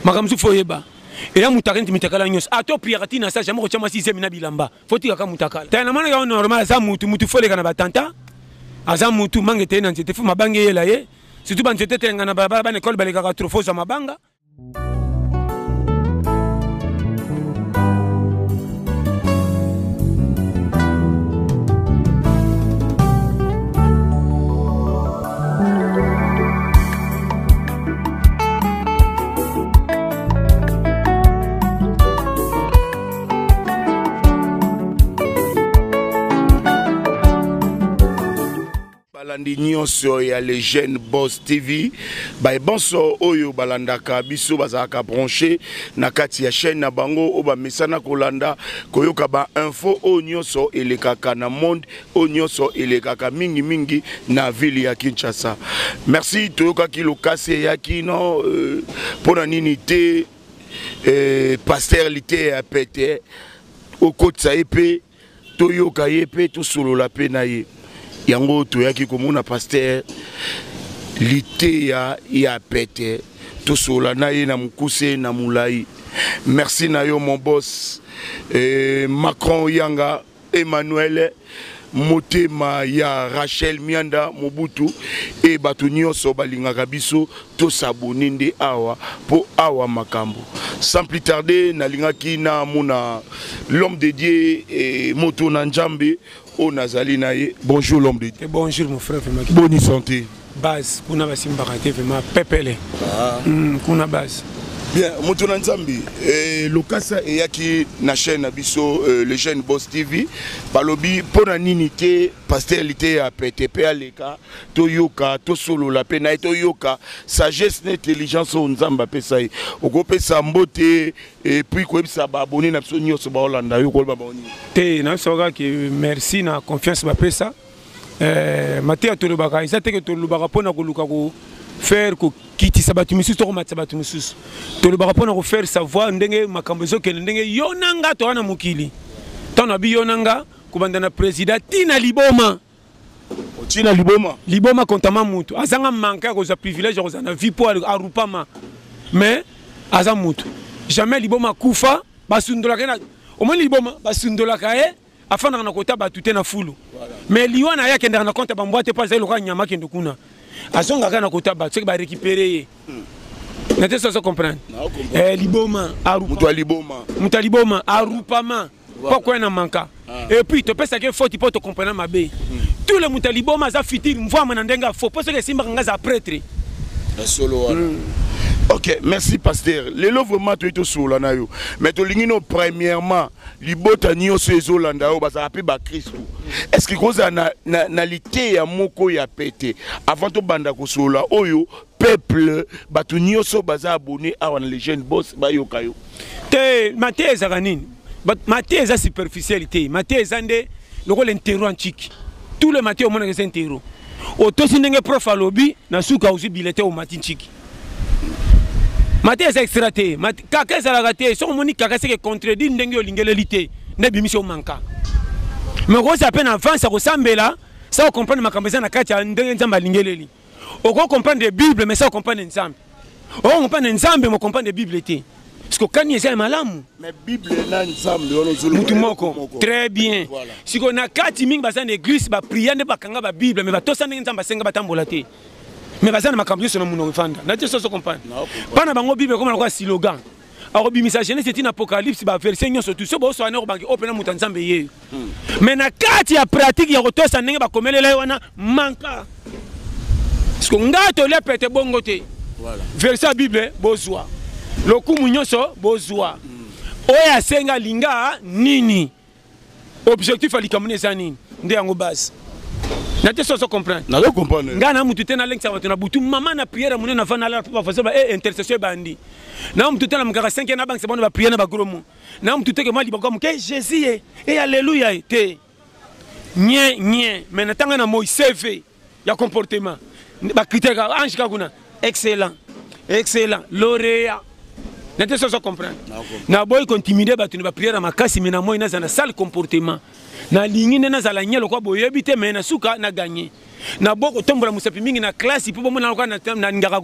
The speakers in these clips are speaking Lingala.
makambo mosusu fo oyeba eya mutakala neti mitakala nyonso ata opriaka ti na sa jamai kotya mwasi zemi na bilamba fo tikaka mutakala tala namonaka yo normal aza mutu mutu fo oleka na batanta aza mutu manga eteye na nzete fo mabanga eyela ye surtout banzete etelenga na balabala bana ekole balekaka trofo ozwa mabanga balandi nyonso ya le jeune boss tv baye banso oyo balandaka biso bazalaka branche na kati ya chaîne na bango oyo bamesana kolanda koyoka bainfo oyo nyonso elekaka na monde oyo nyonso elekaka mingimingi na ville ya kinshasa merci toyokaki lokasi eyaki no euh, mpo euh, na nini te euh, paster liteya pete okotisa ye mpe toyoka ye mpe tosolola mpe na ye yango toyaki komona paster liteya ya pete tosolola na ye na mokuse na molai merci na yo mon bos eh, macron yanga Emmanuel motema ya Rachel Mianda Mobutu et bato nyonso balingaka biso to s'abonner nde awa po awa makambo sans plus tarder nalingaki na mona l'homme de Dieu et moto na Nzambe oyo nazali na ye bonjour l'homme de Dieu et bonjour mon frère Bonne santé base kuna basimbaka te vrema pepele ah. mm, kuna base bien moto na nzambe eh, lokasa eyaki na chaîne na biso eh, le jeune boss tv balobi mpo na nini te paster liteya pete mpe aleka toyoka tosolola mpe na ye toyoka sagesse na intelligence oyo nzambe apesa ye okopesa mbote epuis koyebisa baabone na biso nyonso baolanda yo koloba baoni te nayosoka ke merci na confiance bapesa eh, mateya tolobaka eza teke tolobaka mpo na koluka ko faire kokitisa bato mosusu to komatisa bato mosusu tolobaka mpo na kofaire savoir ndenge makambo ezokende ndenge yo na nga toa na mokili ntango na bi yo na nga kobanda na président ti na liboma otina liboma liboma kontama motu azanga manke ya kozwa privilège ya kozala na vie mpo arupama mais aza motu jamais liboma akufa basundolaka ye omoni liboma basundolaka ye afandaka na kota bato te na fulu mais liwa na ye akendaka na konte bambwa te mpo azali lokola nyama akende kuna azongaka na kota bato soki barekipere ye hmm. na te soso comprendre eh, liboma moto ya liboma moto ya liboma arupama mpo akwya na manka ah. epuis topesaki ye foti mpo tocomprena mabe hmm. tout le moto ya liboma aza fitire mvwama na ndenge ya fo mpo soki esimbaka ngai aza pretre ya solo wana hmm. ok merci pasteur lelo vraiment toyei tosolola na yo mais tolingi no premièrement libota nyonso ezolanda yo bazalaka mpe bakristu eske kozala na, na, na liteya moko ya pete avant tobanda kosolola oyo peuple bato nyonso baza abone awa na legene bos bayoka yo te mateya ezalaka nini mateya eza superficiel te mateya eza nde lokola intero antiki tout le mateya omonaka eza intero otosi ndenge prof alobi na suka ozwi bilete omati ntiki mateya eza extra te kaka ezalaka te soki omoni kaka eseke contredire ndenge olingeleli te nde ebimisi omanka me okozala mpe na avance ya kosambela sa ocomprendre makambo eza na kati ya ndenge nzambe alingeleli okoki comprendre bible mais sa ocomprendre nzambe okoki comprendre nzambe mocomprendre bible te siko kani eza ya malamu mutu moko très bien siko na kati mingi baza na eglise bapria nde bakanga babible mais batosa ndenge nzambe asenga batambola te mais baza na makambo nyonso na monoko efanda na te soso comprendre bana bango bible ekoma lokola silogan akobimisa genese etina apocalypse baverse nyonso tu so booswana ekobangi oyo mpena moto ya nzambe yeyo hmm. mais na kati ya pratique ya kotosa ndenge bakomelela ye wana manka parceke ngai tolia pete bongo te verse ya bible bozwa lokumu nyonso bozwa hmm. oyo asenga linga nini objectif ya likambo na eza nini nde yango base na te soso comprendre nazo comprendre ngai na mutu te nalengisa bato na butu mama na priere monene na vanda alala mpo bafasi ba e intercession ebandi na mutu te na mokaka 5 na bangisa bana bapriere na bagro mo na mutu te ke mwa libaka moke jésus ye e alleluya ye te nye nye mai na ntango na moi cv ya comportement ba critère ka ange ka kuna excellent excellent lauréat na te soso comprendre na boyi kontimide bato na bapriere ya makasi me na moi nazala na sale comportement nalingi nde nazala nye lokwa boyebi te me na suka na ganye na bo kotombola mosapi mingi na klasi mpo bomona lokola nalingaka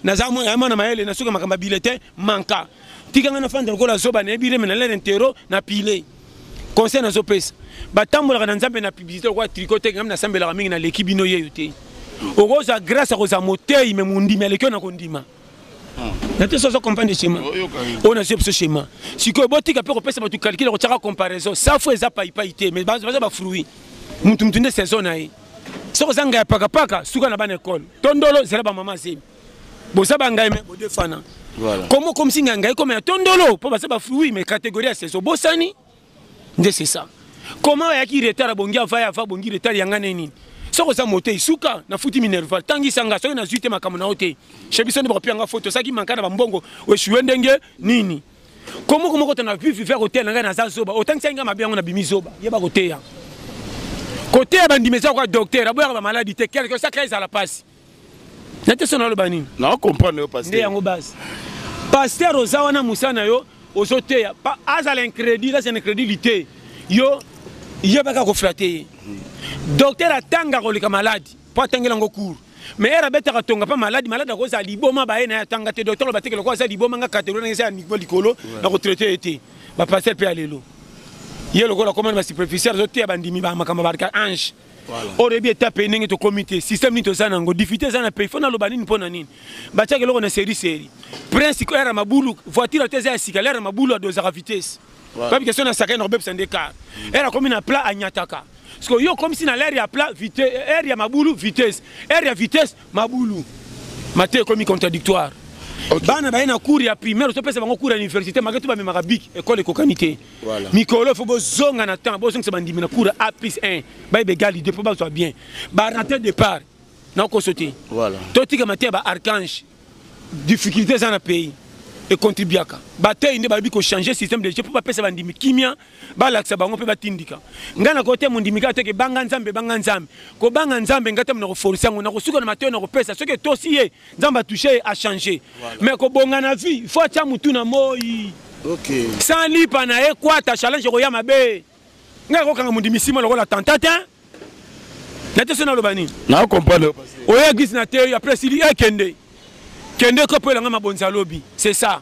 naza mwana mayele na suka makambo ya biletin manka tika ngai nafanda lokola zoba nayebi reme na lere ntero na pile conseil nazopesa batambolaka na nzambe na publicité lokola triko te ngai nasambelaka mingi naleki bino yeyo te okozwa grâce ya kozwa moteyi me mondimi aleki oyo na kondima hmm. na te soso comprendre schéma oyo nazwi biso schéma sikoyo botika mpe kopesa bato calcule kotyaka comparaison safu eza paipai te mais baza bafruit mutu mutu nde saison na ye soki oza ngai ya pakapaka suka na bana ekole tondolo zela bamama zemi boza bangai me bodefana komo okomisi ngai ngai ekoma ya tondolo mpo baza bafui me kategorie ya seso obosani nde c'est ça koma ayaki retard abongi ava ya ava abongi retard yanga nde nini soki oza motei suka nafuti minerval tangisa nga soki nazwi te makambo na yo te shebiso nde bakopiya nga foto osaki manka na bambongo oeshue ndenge nini Comment comment quand on a pu faire au terre na za zoba autant que ça nga mabe yango na bimi zoba yeba ko teya ko teya ba ndimeza ko docteur aboya ba maladie te quelque ça crise à la passe na te sona lo bani na comprendre yo pasteur yango base pasteur oza wana musana yo ozo teya azala incrédit là c'est incrédulité yo yebaka ko flatter docteur atanga ko lika maladie po atangela ngo cours mais era betaka tonga pa malade malade akozala liboma baye na ye atanga te docteur aloba teke lokola aza liboma nga categorie na eza ya niveau likolo na kotraite ye te bapasteur mpe ya lelo ye lokola komani basuperficiel azoteya bandimi bamakambo barika ange orebi etape ye ndenge tokomi te système nini toza nango difficulté eza na pays fo naloba nini mpo na nini batiaka eloko na seri seri prince era mabulu voiture ata eza ya sika lera mabulu adozaka vitesse Babi question na sakana kobebisa nde car. Elle akomi na plat anyataka. Siko yo comme si na l'air ya plat vitesse, air ya mabulu vitesse, air ya vitesse mabulu. Mate ekomi contradictoire. Okay. Bana baye na cours ya primaire to pesa bango cours ya université maketu ba memaka bic école ekokani te. Voilà. Mikolo faut bozonga na temps bozongisa bandimi na cours ya A+1 baye begali de po bazwa bien. Ba rater départ na kosote. Voilà. To tika mate ba archange difficulté eza na pays econtribuaka batei nde bayebi kochange système de jeu mpo bapesa bandimi kimia balakisa bango mpe batindika ngai na kote mondimi kaka teke banga nzambe banga nzambe kobanga nzambe ngai tamo nakoforce yango nakosuka na matoi nakopesa soki etosi ye nzambe atouche ye achange mais kobonga na vie fo atya motu na moi okay. sans lipa na ye kwata challenge ekoya mabe ngai akokanga mondimi sima lokola tanta te na te so naloba nini na comprendre oya eglise na te après esili ekende kende eh, kopo elanga mabonzi ya lobi c'est ça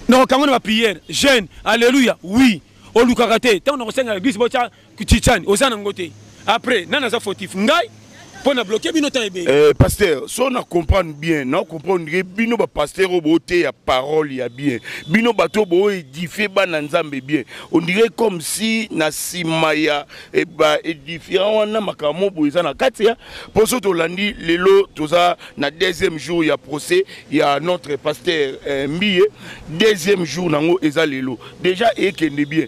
nakokango na bapriere jeune alleluya oui olukaka te ntango nakosengela eglise botya chichani oza nango te après nani aza fautif ngai mpo na bloke bino temps ebele eh, pasteur so na comprendre bien na comprendre ke bino bapasteur oyo booteya parole ya bien bino bato oyo booedifie bana nzambe bien ondire comme si na nsima ya eh, baedifiant wana makambo boye eza na kati ya mpo so tolandi lelo toza na deuxième jour ya procès ya notre pasteur eh, mbiye deuxième jour nango eza lelo déjà ekende bien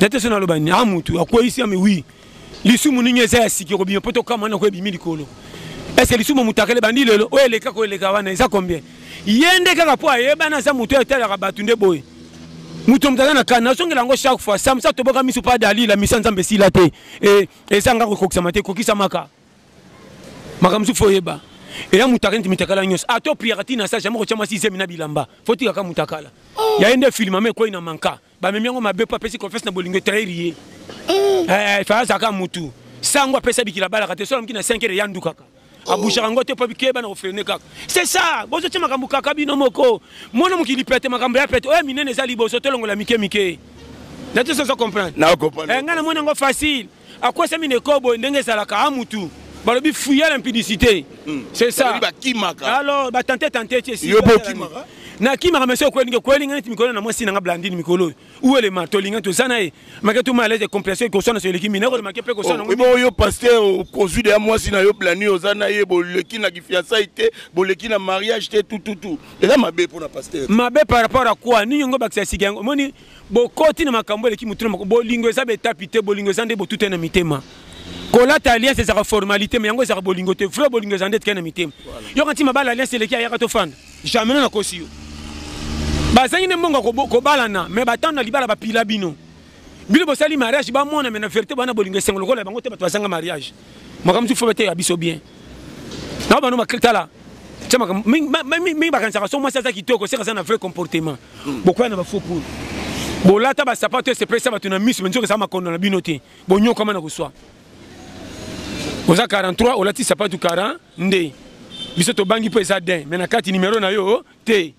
nate so naloba nini a ah, motu akweyisi ami wi lisumu nini eza ya siki okobima mpo tokama nako ebimi likolo ese lisumu motakala ebandi lelo oyo eleka koeleka wana eza combien ye nde kaka mpo ayebana aza motu oyo etalaka bato nde boye moto moto aza na kani nazongela yango chaque fois samsa toboka miso mpa dalila misa nzambe esila te e, ezanga kokokisama te ekokisamaka makambo mosusu fo oyeba eya mutakala neti mitakala nyonso ata ah, opriaka ti na sa jamai kotya mwasi zemi na bilamba fo tikaka mutakala oh. ya ye nde filme ama ekwei na manka bamemi yango mabe mpo apesi confesse na bolingo etrairi ye oh. eh, eh, fayazaka mutu sango apesa bikila balaka te solamoki na 5 heure eya ndukaka oh. abushaka ngo te mpo bikeba na kofrene kaka c'est ça bozotya makambo kaka bino moko mona mokili pete makambo ya pete oyo minene eza liboso tolongola mike mike natosozo comprendre eh, ngai namoni yango facile akwesami na ekolo boye ndenge ezalaka a mutu balobi fuya na mpidisite hmm. c'est ça alors batante tante ti esi nakimaka mesi okwelingi okwelinga neti mikolo na mwasi nanga blandine mikolo oyo uelema tolinga toza na ye make tuma alete complace ekoswana so eleki mina kolema ke mpe koswana oh, bo yo paster okozwi deya mwasi na yo blandine oza na ye boleki na kifiansai te boleki na mariage te tututu eza mabe mpo na paster mabe par rapport a quoi nini yango bakisa sika yango omoni bokoti na makambo eleki motuna moko bolingo eza betapi te bolingo eza nde botuta na mitema kolata alliance ezaka formalité mais yango ezaka bolingo te vrai bolingo eza nde etika na mitema yoka ntima bala alliance eleki ayaka tofanda jamais no nakosi yo bazangi nde mbongo kobalana mais batano na libala bapila bino bino bosali mariage bamona me na verité bana bolingo esengo lokola bango te bato bazanga mariage makambo mosusu fo bateya biso bien na bano tala mingi bakanisaka so mwasi aza kitoko seka aza na vrai comportement hmm. bokoya na bafaux poule bolata basapato esepelisa bato na miso nzoka eza makondo na bino te bonyokama na koswa oza 43 olati sapatu 40 nde biso tobangi mpo eza den me na kati nimero na yo te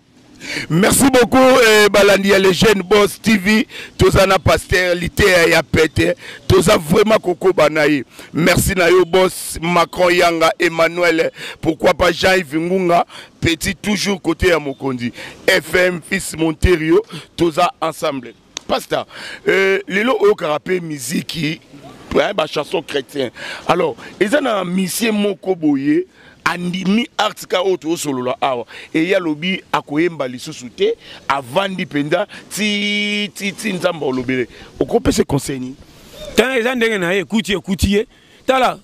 Merci beaucoup eh, balandi ya les jeunes boss TV toza na pasteur liteya ya pete toza vraiment kokoba na ye merci na yo boss Macron Yanga Emmanuel pourquoi pas Jean-Yves Ngunga petit toujours côté ya mokonzi FM fils Monterio toza ensemble Pasta, euh, lelo oyokaka mpe miziki hein, ba chanson chrétien alors eza na misie moko boye andimi artika oyo toosolola awa eye alobi akoyemba lisusu te avandi mpenza ti ti ti nzambe olobele okopesa conseil nini tala eza ndenge na ye ekuti ekuti ye tala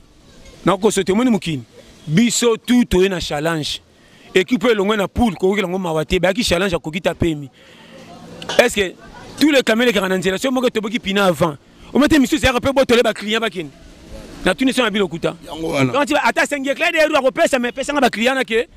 nakoso te omoni mokili biso tu toye na challenge Equipe elongwe na poule kokokela ngo mawa te bayaki challenge akoki ta pemi. Est-ce que tous les caméras ekaka na nzela soki moko etoboki pina avant omete misusu eyaka mpe botole baclient bakende na tuni sona bino kuta ata sengi eclair de ru akopesa me pesanga baclient nake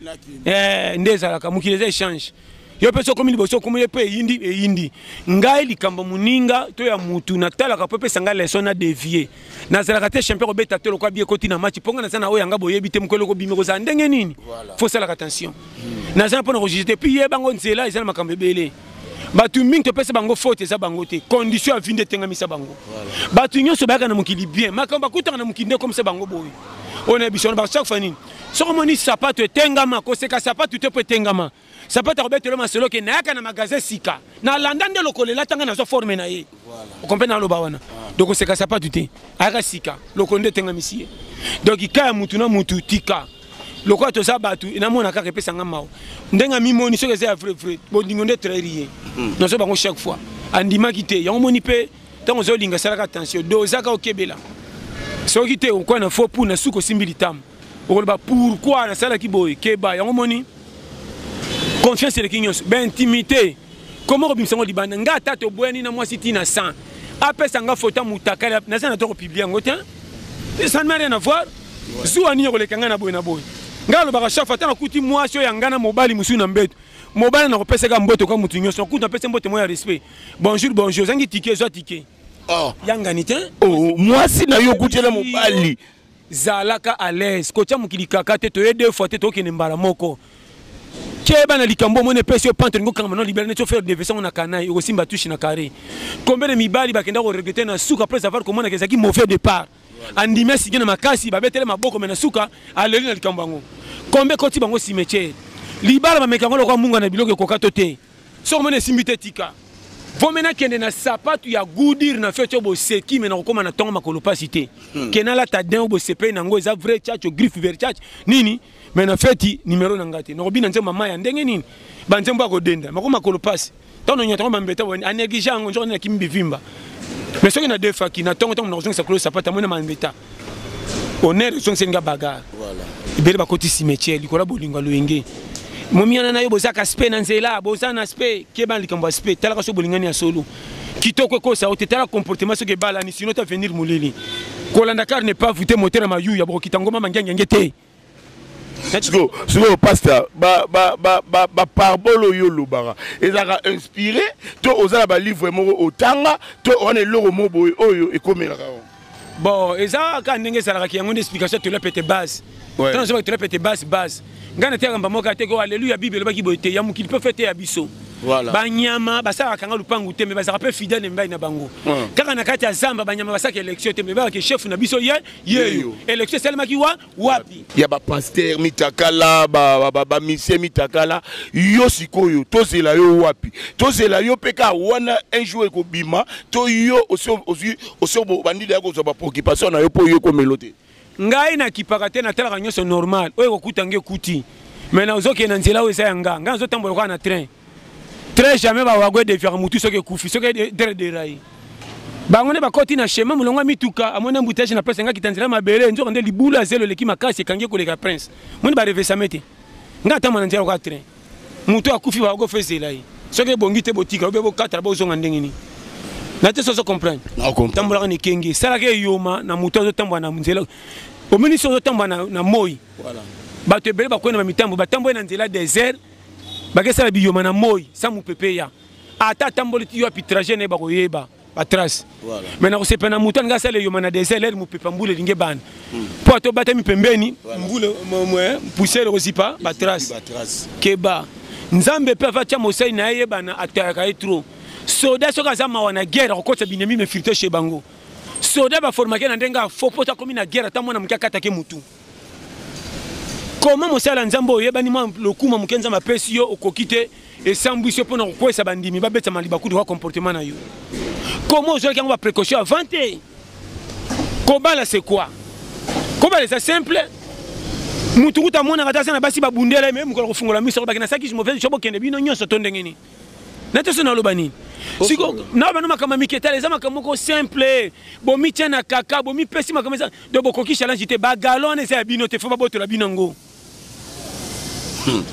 eh, nde ezalaka mokili eza échange yo mpe sokomi liboso okomi ye mpe eyindi eyindi ngai likambo moninga to ya mutu natalaka mpo epesa ngai leson na devie nazalaka te champion kobeta to lokola bi ekoti na match mpo ngai naza na oyo yanga boyebi te mokolo kobimi kozala ndenge nini fo osalaka attention hmm. naza na mpo na kojuge te puis ye bango nzela eza na makambo ebele bato mingi topesa bango faute eza bango te condition ya vi nde etengamisa bango bato nyonso bayaka na mokili bien makambo bakutaka na mokili nde ekomisa bango boye oyo na biso wana basakufa nini soki omoni sapato etengama koseka sapato te mpo etengama sapato akobetelo masolo ke nayaka na magasin sika nalanda nde lokolo elata ngai nazwa forme na ye okompe naloba wana ah. donc koseka sapato te ayaka sika lokolo nde etengamisi ye donc ka ya mutu na mutu tika lokola toza bato namona kaka epesa ngai mawa ndenge amimoni soki eza ya vrai vrai bondingo nde etrairi ye hmm. nazo bango chaque fois andimaki te yango moni mpe ntango ozolinga salaka attention dozaka okebela soki te okwa na fo pour na suka osimbi litama okoloba pourkui nasalaki boye keba yango moni confiance eleki nyonso baintimité koma okobimisa yango libanda ngai ata toboyani na mwasi ntina 100 apesa nga foto ya motakali naza na to kopiblia yango te ça ne rien à voir zuwa nini okoleka ngai na boye na boye ngai alobaka chaque fois ata nakuti mwasi oyo ya ngai na mobali mosusu na mbeto mobali nakopesaka mboto kaka moto nyonso nakuti napesi mboto moko ya respect bonjour bonjour ozangi tike zwa tike oh. yangani te oh, mwasi na yo okutela mobali zalaka à l'aise kotya mokili kaka te toye deux fois te tokende mbala moko keba na likambo omoni epesi yo pante olingi okangama na libela neti ofere devese yango na kanai okosimba tushe na carré combien de mibali bakenda koregrete na suka après avoir komonaka ezalaki mauvais départ andimi asige na makasi babetele maboko me na suka aleli na likambo yango combien ekoti bango cimetière libala bameka yango lokola munga na biloko ekoka to te Soki omoni esimbi te tika. Vome nakende na sapatu ya gudir na feti oyo boseki me nakokoma na ntongo makolo mpasi te hmm. ke nalata din oyo bosepeli na yango eza vrai chacho griffe ver chacho nini me na feti nimero na ngai te nakobina nzembo mama ya ndenge nini banzembo ya kodenda mako makolo mpasi ntango nonyata yango bambeta aneglige yango nzoko nde nakimi bivimba me soki nadefaki na ntongo ntango nakozongisa kolo sapatu amoni na mambeta honneur ezongiseli nga bagarre ebele bakoti cimetière likolo ya bolingo ya loyenge momiana na yo boza kaspe na nzela boza na spe keba likambo ya spe talaka soki bolingani ya solo kitoko ekosa yo te tala comportement soki ebalani sino ta venir molili kolanda car ne pas voute motere mayu ya bokokita ngoma mangiangenge te sikoyo sikoyo pasteur baparbole oyo olobaka ezalaka inspiré to oza na balivre moko otanga to wana eloko moko boye oyo ekomelaka yango bon eza kaka ndenge ezalakaki yango nde explication tola pete base tana ozobaki tola pete base base ngai nateyaka mba moko ateke oh, aleluya bible elobaki boye te ya mokili mpe fete ya biso voilà. banyama basalaka nga lupangu te me bazalaka mpe fidèle na mibali na bango kaka na kati ya zamba banyama basalaka élection te me babaka chef na biso ye yeyo election esalemaki wa wapi ya bapaster mitakala bamisie mitakala yo sikoyo tozela yo wapi tozela yo mpe kaka wana un jour ekobima to yo osi obandi deya kozwa bapreoccupation na yo mpo yo ekomelo te ngai nakipaka te natalaka nyonso normal oyo ekokuta nge ekuti mai nazokende na nzela oyo eza ya nga ngai nazotambola kaka na train très jamais bawago edefiaka motu soki ekufi soki dere derai bango nde bakoti na chemin molongo ya mituka amoni embouteillage na place engakita nzela mabele nzoka nde libula zelo eleki makasi ekangi ekoleka prince moni barevesame te ngai atambwa na nzela lokola train motu akufi bawago fe ezela ye soki ebongi te botika obe bokatala bozonga ndenge nini na te sozo comprendre tambolaka na ekenge esalaka eyoma na motu azotambola na nzela omoni soki ozotambola na moi bato ebele bakwei na bamitambo batamboli na nzela desert bakesala biyoma na moi sa mopepe ya ata atamboli ti yo apitrage na ye bakoyeba batrace voilà. me na kosepela na moto alingi asala eyoma na desert lere mopepa mbula elingi ebanda hmm. mpo ata obatami pembeni mbula pusele kozipa batrace keba nzambe mpe avatya mosali na ye yebana atayaka ye trop soda soki aza mawa na guerre akokotisa binemi mefirte chez bango soda baformake na ndenge afo mpo akomi na guerre ata mwana moke akatake motu koma mosala ya nzambe oyo oyebani mwa lokuma moke nzambe apesi yo okoki te esambwisi yo mpo na kokwesa bandimi babetama libakutu kwa comportement na yo koma ozwaki yango baprécaution avant te kobala c'est quoi kobala eza simple motu kuta amonaka te aza na basi babundela ye me mokolo kofungola miso bakenda sakisi mopesi sho bokende bino nyonso to ndenge nini natoso naloba nini siko na bano makambo ya miketala eza makambo moko simple bomitya na kaka bomipesi makambo eza do bokoki challenge te bagalo wana eza ya bino te fo babotola bino yango hmm.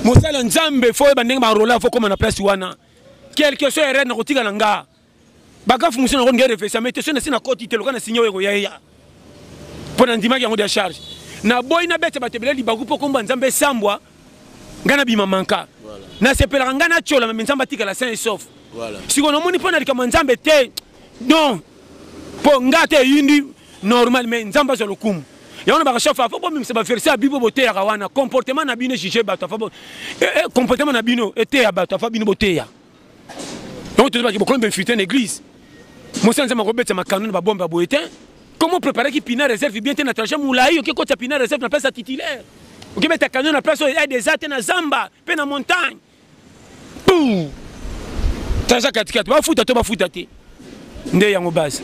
mosala nzambe fo oyeba ndenge barola fo koma na place wana quelque soit erreur nakotika na nga bagafu mosusu nango nge refesa mai te so nasi na koti te loka na signe oyo ekoya eya mpo na ndimaki yango dia charge naboyi nabeta bato ebele libaku mpo kombo ya nzambe esambwa ngai nabima manka nasepelaka ngai natyola me nzambe atikala saint esof sikoyo namoni mpo na likambo ya nzambe te don mpo ngai ata eyindi normal mai nzambe azwa lokumu yango na bakashafa afo bomimisa baverse ya bible boteyaka wana comportement na bino juge bato afa eh, eh, comportement na bino eteya bato afa bino boteya yango tozo baki bokomi infiltre na église mosala nzambe akobetisa makano na babombe ya boye te comment préparaki pina réserve bien te na trajet molai oke kotisa pina réserve na place ya titulaire okebeta canon na place oyo aide eza te na zamba mpe na montagne pou trajet katikati bafuta to bafuta te nde yango base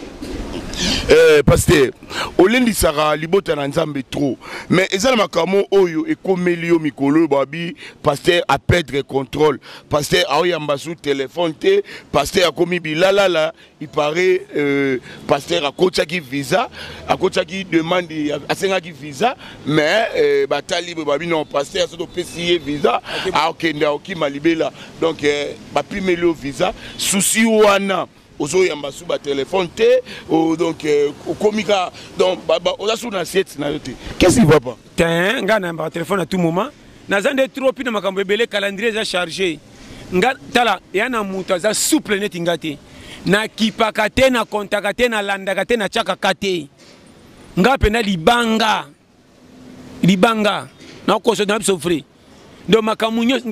eh, paster olendisaka libota na nzambe trop mais eza na makambo oyo ekomeli yo mikolo oyo babi paster apedre contrôle paster aoyamba su telefone te paster akomi bilalala ipare euh, paster akotiaki visa akotiaki demande asengaki visa mais euh, batali boye babi non paster soki opesi ye visa akokende akokima libela donc eh, bapimeli yo visa susi wana ozoyamba su batelefone te oh, donc eh, okomi ka donc oza su na siete na yo te qu'est-ce qui va pas te ngai nayambaka telefone à tout moment naza nde trop mpi na makambo ebele calendrier eza chargé nga tala ya na moto aza souple neti nga te nakipaka te nakontaka te nalandaka te natyakaka te nga mpenza libanga libanga na koso na biso vrai donc makambo nyonso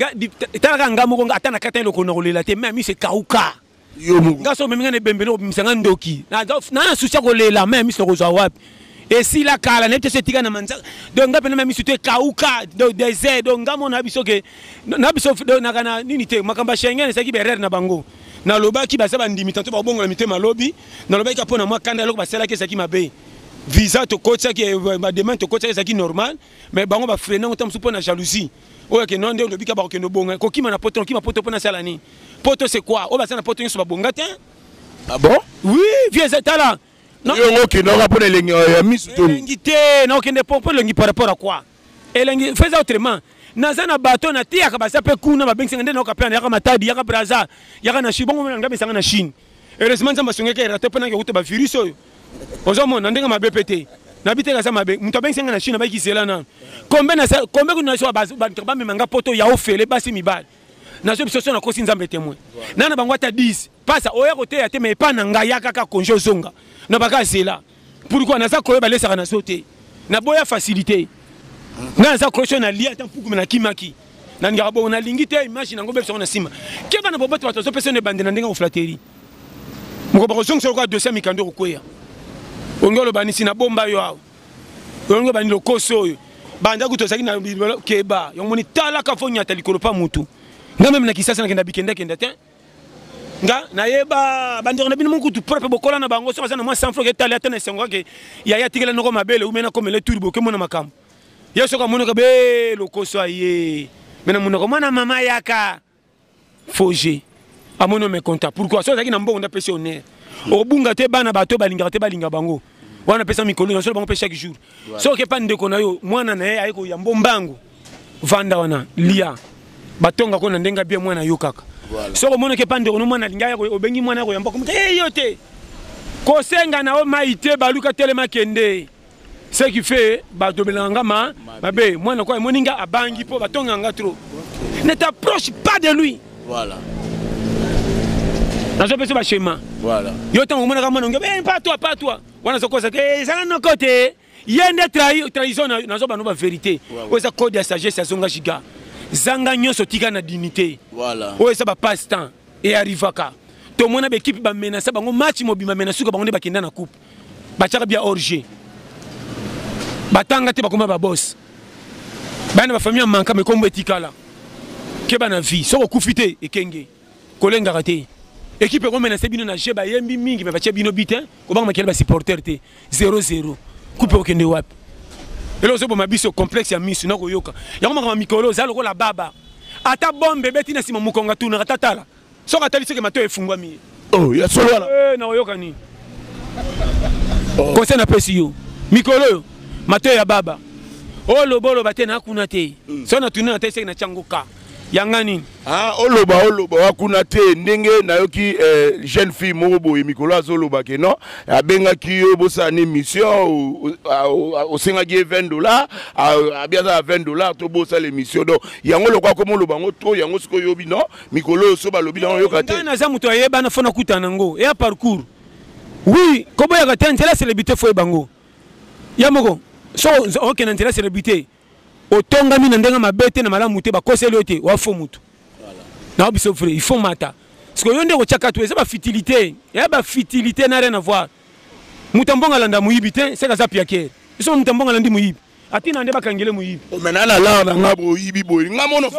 talaka nga moko ata na kata eloko na kolela te meme mise kauka nga so omemi nga na ebembeli obimisa nga ndoki na susi ya kolela meme mise nakozwa wapi esila kala nayebi te so etika na manzaka donc nga mpena misu te kauka donc desert donc nga mona na biso ke na biso naka na nini te makambo ya schengen ezalaki berere na bango nalobaki baza bandimi tanto bakobongola mitema lobi nalobaki ka mpo na mwa kanda eloko basalaki ezalaki mabe visa tokotisaki bademande tokotisaki ezalaki normal mais bango bafrene yango ntango mosusu mpo na jalousie oyo akende wana nde olobi ka bakokende obonga kokima na poto nokima poto mpo nasala nini poto c'est quoi oyo baza na poto nyonso babonga te ah bon oui vieux etala yo ngo okendaka mpo na elengi ya misu to elengi te nakokende mpo elengi par rapport à quoi elengi fais autrement naza na bato nateyaka baza mpe kuna babengisanga nde nayoka mpe yaka matadi yaka braza yaka na chine bongo mona ngambe esanga na chine heureusement nzambe asungaki erate mpo nange okuta bavirus oyo ozomona ndenge mabe mpe te nabi te kaza mabe moto abengisi nga na chine abayiki zela nano kombe kombe kuna naso bato bamema nga poto ya ofele basi mibale nazo biso so nakosi nzambe temoin nana bango ata 10 pasa oya koteya te ma epa na ngai yakaka konje ozonga na baka zela pourquoi naza koyo balesaka na so te naboya facilité nga naza koyo na lia ata mpuku me nakimaki nalingaka bongo nalingi te image nango bebisa yango na nsima keba na boboto bato bazopesa yo na ebande na ndenge ya flateri moko bakozongisa lokola dosie ya mikando ekokweya olingi oloba nisi nabomba yo awa olingi obani lokoso oyo banda kutu ozalaki na keba yango moni talaka fo nyata likolo mpa motu nga meme na kisasa nakenda bikendakenda te nga nayeba bandeko na bino mokutu propre bokola na bango soki aza na mwa sanfro ketali ata na esengo kake yaya atikela noko mabele ume nakomela eturi bokemona makambo ye soki amonaka be lokoso aye me na monoko mwana mama yaka foge amoni o meconta pourkui soki azalaki na mbongo ndapesi honneur obunga te bana bato balingaka te balinga bango wana apesa mikolo na solo bango mpe chaque jour soki epa ndeko na yo mwana na ye aye koyambo mbangu vanda wana lia batonga ko na ndenge bien mwana yo kaka voilà. soko omonaki epa ndeko no mwana alinga yako obengi mwana yako yamba komuta hey, yo te kosenga na yo mai te baluka telema kende ce qui fait badobelaka nga ma mabe mwana kwa emoni nga abangi mpo batonga nga trop ne t'approche pas de lui voilà nazopesa bashema voilà. yo ntango omonaka mwana onge eh, pas toi pas toi wana zokosa te ezala eh, noko te ye nde trahison na zoba no ba verité oyo eza code ya sagesse ya zonga giga zanga nyonso tika na dignité oyo eza ba passe temps e arrivaka tomona baekipe bamenasa bango match mobimba me na suka bango nde bakenda na coupe batyaka bia orge batanga te bakoma babos bana bafamille ya manka mekombo etikala keba na vie soki okufi te ekenge kolengaka te ekipe ekomenase bino na jeu bayembi mingi me batye bino bite kobanga makele basupporter te 00 kupe okende wapi elo ozoboma biso complexe ya misu na koyoka yango makambo mikolo oza lokola baba ata bombe ebeti na nsima mokongo atunaka tatala soki atali soki mato efungwami oh, ya solo wana eh, na koyoka nini oh. conseil napesi yo mikolo oyo mato ya baba oloba oh, oloba te nakuna te mm. soki natuni na tai seki na tyango ka ya nga nini ah, oloba oloba wa kuna te ndenge nayoki eh, jeune fille moko boye mikolo azoloba ke non abengaki yo bosala ni mission osengaki ye 20 dollar abi aza ya 20 dollar to bosala émission donc yango lokola komi oloba yango to yango soki oyobi non mikolo oyo so balobi nango yoka te naza moto ayebana fo nakutana yango ya parcours oui koboyaka te nzela celebrité fo ye bango ya moko so okenda nzela celebrité otongami na ndenge mabe te na malamu te bakoseli yo te wafo motu na biso vrai il faut mata siko yo nde kotyaka to eza bafitilité ya bafitilité na rien avoir moto ambongo alanda moyibi te seke aza piakere biso moto ambongo alandi moyibi atina nde bakangele moyibi oh, mena na lar na nga boyibi boyi nga mono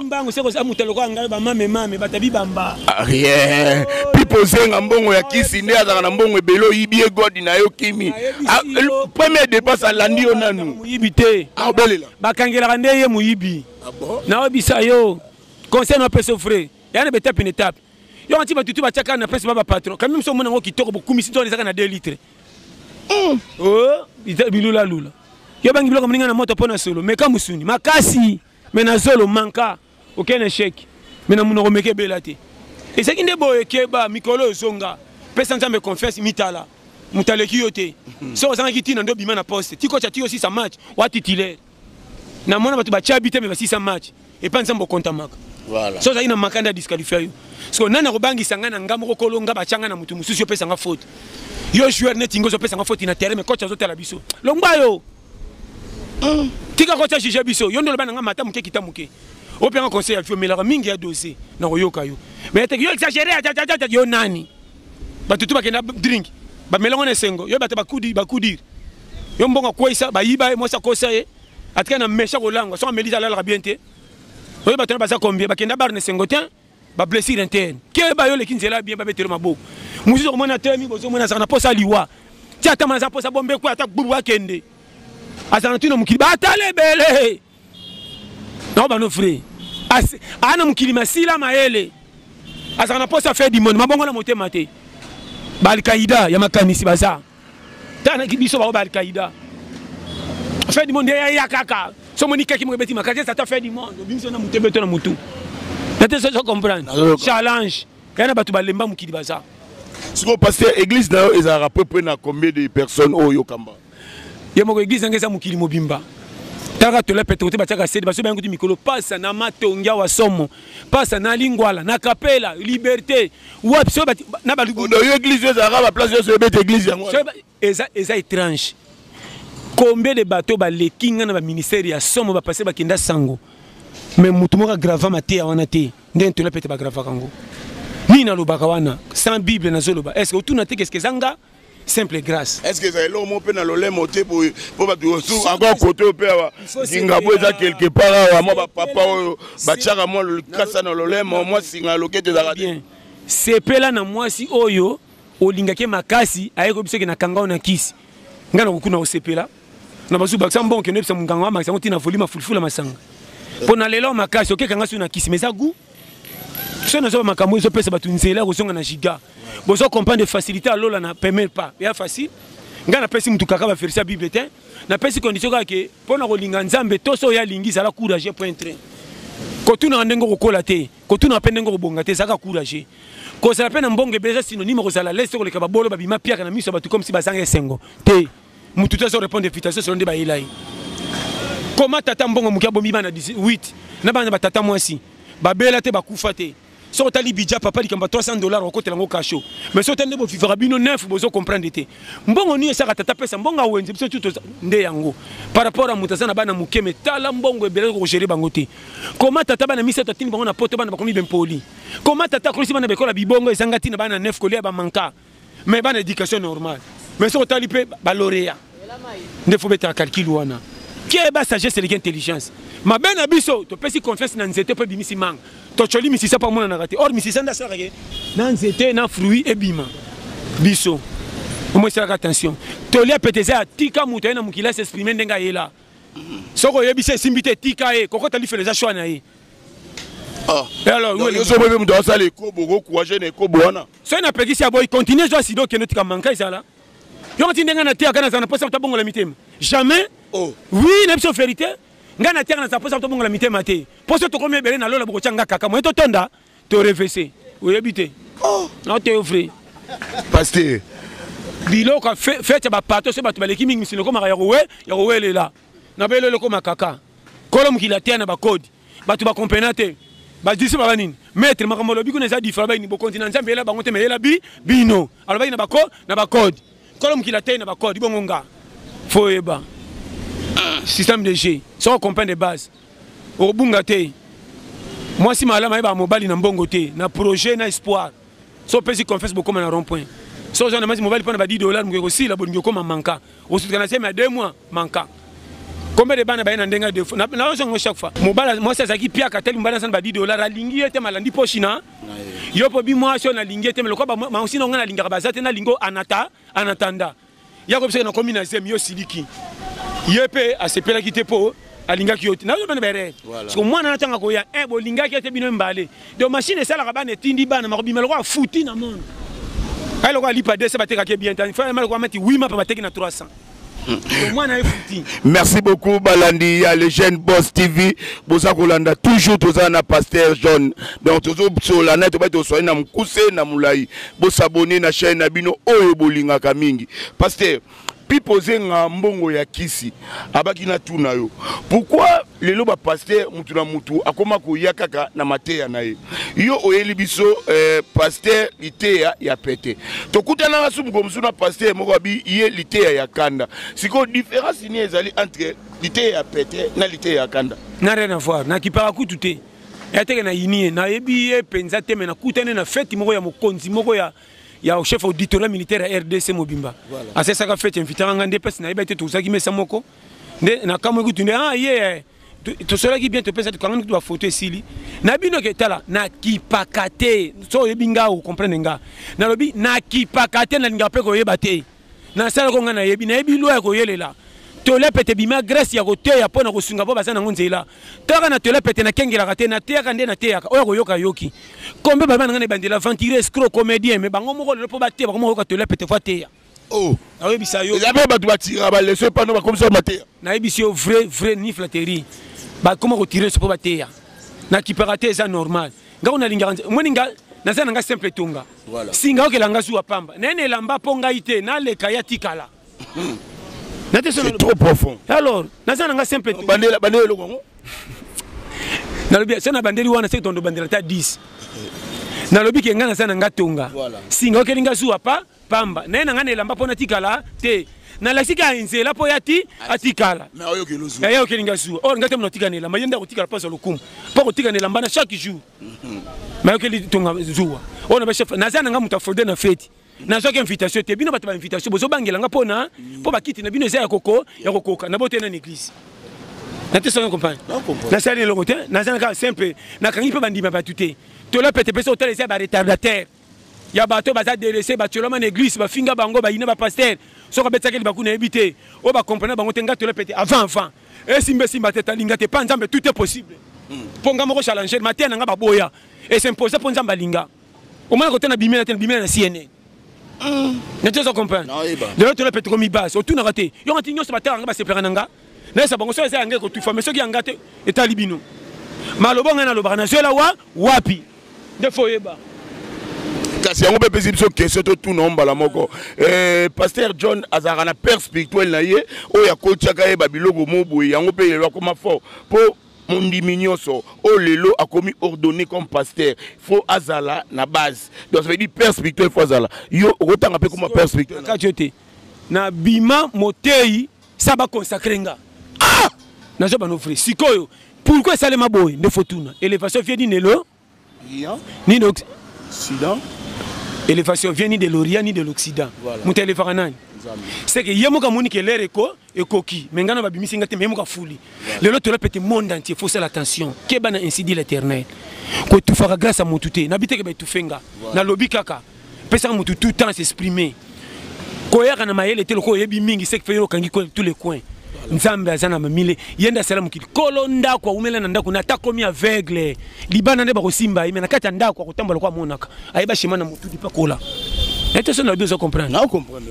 mbango seke oza moto alokola ngai bamamemame batabi bamba ah, rien pipo zenga mbongo ya kisi nde azalaka na mbongo ebele oyibi ye godi na yo kimi ah, premier dépense alandi yo nanu moyibi te bakangelaka nde ye moyibi ah naobisa yo conseil napesa frais ya na betape na etape yo anti bato tu batiaka na presse ba bapatron kami mosu omona yango kitoko bokumisi to ezaka na 2 litre hmm. oh, bilulalula yo bangi biloko moninga na moto mpo na solo meka mosuni makasi me na zolo manka aucun échec mais na munoko meke bela te ezalaki nde boye keba mikolo oyo zonga pesa nzambe confiance mitala moto aleki yo te hmm. soki ozangaki ntina nde obima na poste tikoca ti osisa match wa titulaire namona bato batya bi te me basisa match epai nzambe okontamaka so ozalaki na maka nde adisqualifia yo siko nani akobangisa ngai na ngai moko kolo ngai batya ngai na moto mosusu yo opesa ngai faute yo joueur neti ngai ozopesa ngai faute na terrain me coach azotala biso longwa yo tika kotia juge biso yo nde oloba na nga mata moke kita moke ope nga conseil ya vie omelaka mingi ya dose na koyoka yo mais yo exagere ajajajaja yo nani bato tu bakenda drink bamelango na esengo yo bato bakudire yo mbongo akweyisa bayiba ye mwasi akosa ye atika na mesha kolangwa soki amelisa alalaka bien te oyo bato na baza combien bakenda bar na esengo te ba blessure interne keba yo leki nzela bien babetelo maboko mosusu okomona atelemi bozo omona azalaka na mposa ya liwa ti ata ma aza mposa bombe kwe ata gbubu akende azalaka ntina mokili batala ebele nao bano fre aa na mokili masila mayele azalaka na mposa ya fe dimone mabongo na motema te baalkaida ya makanisi baza tana biso baoyo ba alkaïda fin du monde eya kaka so omoni kaki moko ebeti makasi esata fin du monde obimisi na motu ebeto na motu nate soso comprendre challenge eya na bato balemba mokili baza sikoyo paster église na yo ezalaka peu près na combien de personnes oyo yokamba ye moko église yango eza mokili mobimba kaka tola petekote batiaka sede baso bayango ti mikolo pasa na matongi awa somo pasa na lingwala na kapela liberté wapi so na balubu yo église yo ezalaka ba place yo ebeta église yango eza eza étrange combien de bateau baleki nga na ba ministère ya somo ba passer bakenda sango mais mutu moko agrava mateya wana te nde ntola pete bagravaka yango nini nalobaka wana sans bible nazoloba est ce que otuna te keske eza nga simple grâce est ce que ezala eloko moko mpe na lolemo te boye mpo bato encore kote oyo mpe awa zingabo eza quelque part awa mwa bapapa oyo batiaka mwa likasa na lolemo mwa singa ya loketo ezalaka te sepela na mwasi oyo olingaki makasi aye koyebisa oke na kanga oyo na kisi ngai nakokuna osepela na bazu bakisa mbongo kende bisa munganga wa makisa tina volume fulfula masanga pona lelo makasi okeka nga suna kisi meza goût so nazo makambo ezo pesa batu nzela kozonga na giga bozo comprendre facilité alola na premier pas ya facile nga na pesi mutu kaka ba verser bible te na pesi condition kaka ke pona kolinga nzambe to so ya lingi zala courage point très kotunaka ndenge okokola te kotunaka mpe ndenge okobonga te ezalaka courage kozala mpe na mbongo ebele eza synonyme kozala lese koleka babolo babima piaka na miso ya bato komsi bazanga esengo te mutu te azo répondre invitation solo nde bayela ye koma tata mbongo moke abomi bana 18 na bana batata mwasi babela te bakufa te soki otali bidja papa likambo ya 300 dollar okotela yango kasho mais soki otali nde bovivaka bino neuf bozo comprendre te mbongo nini esaka tata pesa mbongo awenze biso tu nde yango par rapport ya moto aza na bana moke me tala mbongo ebele kokogere bango te koma tata bana misato atindi bango na poto bana bakomi bempoli koma tata akolisi bana bekola bibongo ezanga ntina bana neuf kolia bamanka mais bana éducation normale mais soki otali mpe baloreya nde fo betala calcul wana keba sagesse eleki intelligence mabe na biso topesi confiance na nzete mpe ebimisi manga tocoli misisa mpo amonanaka te or misisa nde asalaka ke na nzete na fruit ebima biso omo esalaka attention tolia pete eza ya tika moto aye na mokili asi exprime ndenge ayela soki oyebisi esimbi te tika ye kokota lifelo eza shwa na ye ah. eh, alors yo ozoboyi mpe moto asala ekobo okokuwa jeune ekobo wana soki na pekisi ya boyi continue zwa sida okende otika manka ezala yoko ti ndenge nateyaka nazala na mposa tabongola mitema jamais oh. oui na biso verité ngai nateyaka nazala mposa tobongola mitema te mposo tokomi ebele na lola bokotya nga kaka moye totonda torevese oyebi te oh. naoteyo vrai paster biloko fete ya bapato so bato baleki mingi misino ekomaka ya kowe ya kowelela na belelo ekoma kaka kolo mokili ateya na bakodi Bato ba comprena te. Ba disciples ba nini? Maître makambo alobi kuna eza different ba nini? Bokonzi na Nzambe eyela bango te mais eyela bi bino. Alobaki na ba ko na ba code. Kolo mokili ateyi na ba code ibongo nga. Faut yeba. Système de jeu. Soko comprendre de base. Okobunga te. Mwasi malama yeba mobali na mbongo te, na projet na espoir. so opesi confiance bokoma na rond point so oza na masi mobali mpo na ba 10 dollar moke kosila bolingi okoma manka osutuka na sema ya 2 mois manka combien de bana baye na ndenge ya defo naozongo chaque fois mobali mwasi azalaki piaka tali mobali azana ba 10 dollar alingi ye te malandi poshi na yo mpo bi mwasi oyo nalingi ye te lokola maosi na ngai nalingaka baza te nalingi anata anatanda ya ko bisaka na komi na zemi yo siliki ye pe asepelaki te po alingaki yo te nazo bana bere siko mwana na tanga koya eh bolingaki ete bino mbale donc machine esalaka bana etindi bana makobima lokola futi na monde ayi lokola lipa 200 batekaki bien tani fa malokola mati 8 mapa bateki na 300 merci beaucoup balandi ya le jeune boss tv boza kolanda toujours toza na pasteur john donc tozosola naye tobaki toswali na mokuse na molai Bo s'abonner na chaîne na bino oyo bolingaka mingi. Pasteur, pipo zenga mbongo ya kisi abaki na tu na yo pourquoi lelo ba pasteur mutu na mutu akoma koya kaka na mateya na ye yo oyeli biso eh, pasteur liteya ya pete tokutanaka su mokolo mosusu na pasteur moko abi ye liteya ya kanda sikoyo différence nini ezali entre liteya ya pete na liteya ya kanda na rien à voir nakipaka kutu te yateke na yini ye nayebi ye mpenza te me nakutani na feti moko ya mokonzi moko ya ya chef auditorat militaire ya rdc mobimba voilà. asesaka feti invitaka ngai nde mpasi nayebi te tozalaki mesa moko nde nakamwe kutu nde ah ye yeah. tosolaki bien topesa tokangani kutu bafoto esili na bino ke tala nakipaka te so oyebi ngai okomprendre ngai nalobi nakipaka te nalingaka mpe koyeba te Na sala ko nga na yebi, na yebi loi ya ko yelela. Tola pete bima grace ya ko teya pona ko sunga po baza na ngo nzela. Kaka na tola pete na kengelaka te, na teyaka nde na teyaka. Oya ko yoka yoki. Kombe ba bana nga na bandela aventurier escroc comedien mais bango moko lelo po ba teya ba koma ko yoka tola pete fa teya. Oh. Na yebi sa yo. Ya ba batu ba tira ba leso pa no ba komisa ba teya. Na yebi si yo vrai vrai ni flatterie. Ba koma ko tire so po ba teya. Na kipaka te eza normal. nga ona lingaka nzambe moni nga naza na nga simple tonga voilà. singa okela nga zuwa pamba naye na elamba mpo ngai te naleka ya tikala C'est trop profond. Alors, naza nanga simple. Bandela bandela eloko yango. Nalobi sena bandeli wana c'est tondo bandela ta 10. Nalobi ke nga naza nanga tonga. Singa okeli nga zuwa pa pamba naye na ngai na elamba mpo natikala te nalakisi kaka nzela mpo ya ti atikala yaye okeli ngai zuwa or ngai te monatika na elamba ye nde akotikala mpo azwa lokumu mpo akotika na elamba na chaque jour mhm. mayokeli tonga zuwa oyo na bachef naza na ngai moto afode na feti nazwaki invitation te bino bato ba invitation bozobangela ngai mpo na mpo mm. bakiti na bino eza ya koko ya kokoka na bote na église natesaka compagne nasali elongo te naza na kaka simple nakangi mpe bandima bato te tola pete mpe so otala eza ya baretardatere ya bato baza delese batiolama na eglise bafinga bango bayina bapaster soki abetisaki libaku nayebi te oyo bakomprene bango te nga tola pete avant avant esimba esimba te talinga te mpa nzambe tout est possible mpo hmm. nga moko challenge mateya na nga baboya esimposa mpo nzambe alinga omona kote na bimela te na bimela na cnn hmm. neti ozo comprendre lelo tola pete komibase otunaka te yonga ti nyonso batala nga basepelaka na nga nayesa bango soki eza yanga ekotufa mai soki yanga te etali bino maloba ngai nalobaka nazwela wa wapi nde fo oyeba kasi yango mpe epesi biso question totuna mbala moko eh, paster john azalaka na père spirituel na ye oyo akotiaka ye babiloko mo boye yango mpe lelo akoma fort mpo mondimi nyonso oyo lelo akomi ordonné comme pasteur fo azala na base donc ça veut dire père spirituel fo azala yo okotanga mpe koma père spirituel kati yo te na bima moteyi sa ba consacrer nga ah nazo bano vrai sikoyo pourquoi esalema boye nde fotuna elevation vie nini elo nini occident elevation vie ni de l'orient ni de l'occident moto elevaka nani seke ye moko amoni ke lere eko ekoki me ngai na babimisi ngai te me ye moko afuli lelo tola pete monde entier faut sala attention keba na incidi l'éternel koetufaka grâce ya motu te nabi teke baetufe nga nalobi kaka pesa mutu tout temps s'exprimer koyaka na mayele te lokola oyebi mingi seke fe yo okangi tous les coins nzambe aza na mamile ye nde asala mokili kolo ndako awumela na ndako na ata komi aveugle libanda nde bakosimba ye me na kati ya ndako akotambola ko amonaka ayeba shema na motu dipa kola ete soki nalobi ozo comprendre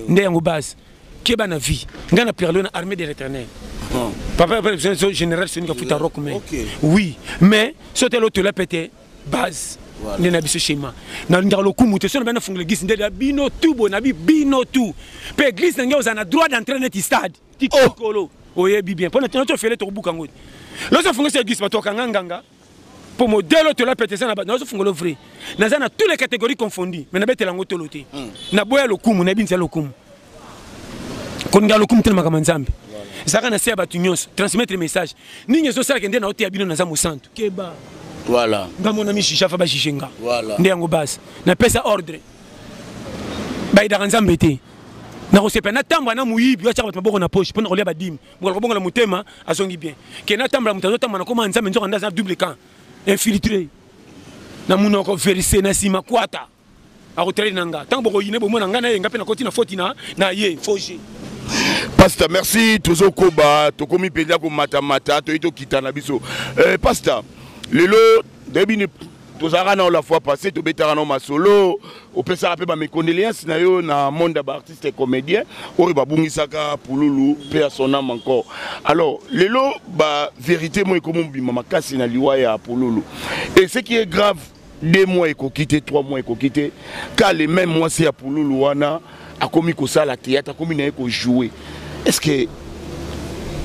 nde yango base keba na vie ngai na perlo na armée de l'éternel papa général sonika futa rock me oui mais sotela otola pete base voilà. nde na biso shema nalingaka lokumu te so na bana fungola eglise nde ya bino tu boye na bi bino tu mpe eglise na ngai oza na droit d'entrain neti stade tikolo oh. oyebi bien mpo na tino tofele tokobuka ngo loso afungisa eglise bato akanga nganga mpo modele otola pete eza na bato nazo fungolo vrai naza na tous les catégories confondu mais nabetela yango tolo te hmm. naboya lokumu nayebi nzela lokumu kolinga lokumu te na makambo ya nzambe ezalaka na se ya bato nyonso transmettre message nini ezosalaka nde na oteya bino naza mosantu keba voilà nga mona mishija fa bajije nga voilà nde yango base napesa ordre bayidaka nzambe te nakosepela natambwa na moyibi oyo atyaka bato maboko na poche mpo na kolia badimi mokolo kobongola motema azongi bien ke natambola moto azotambwa nakoma nzambe nzoka nde aza double camp infiltré na munoko verise na nsima kwata akotrade na nga ntango bokoyine bomona ngai na ye nga mpe nakoti na foti na na ye foge pasta merci tozokoba tokomi mpenza komatamata toyei tokita na biso eh, pasta lelo ndayebini tozalaka nao la fois passé tobetaka nao masolo opesaka mpe bamecondoléance na yo na monde ya baartiste et comédien oyo babungisaka pululu mpe ya son ame encore alors lelo bavérité moi ekomi mobima makasi na liwa ya pululu et ce qui est grave deux mois ekoki te trois mois ekoki te car le même mwasi ya pululu wana akomi kosala théâtre akomi na ye kojoue est ce que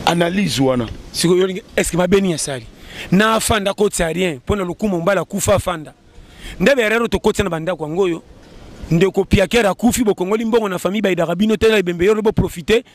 analyse wana sikoyo est ce que mabe nini asali na afanda akotisa rien mpo na lokumu mbala akufa afanda nde berero tokotisa na bandako yango oyo ndeko piakere akufi bokongoli mbongo na famille bayidaka bino te na ebembe yolo boprofite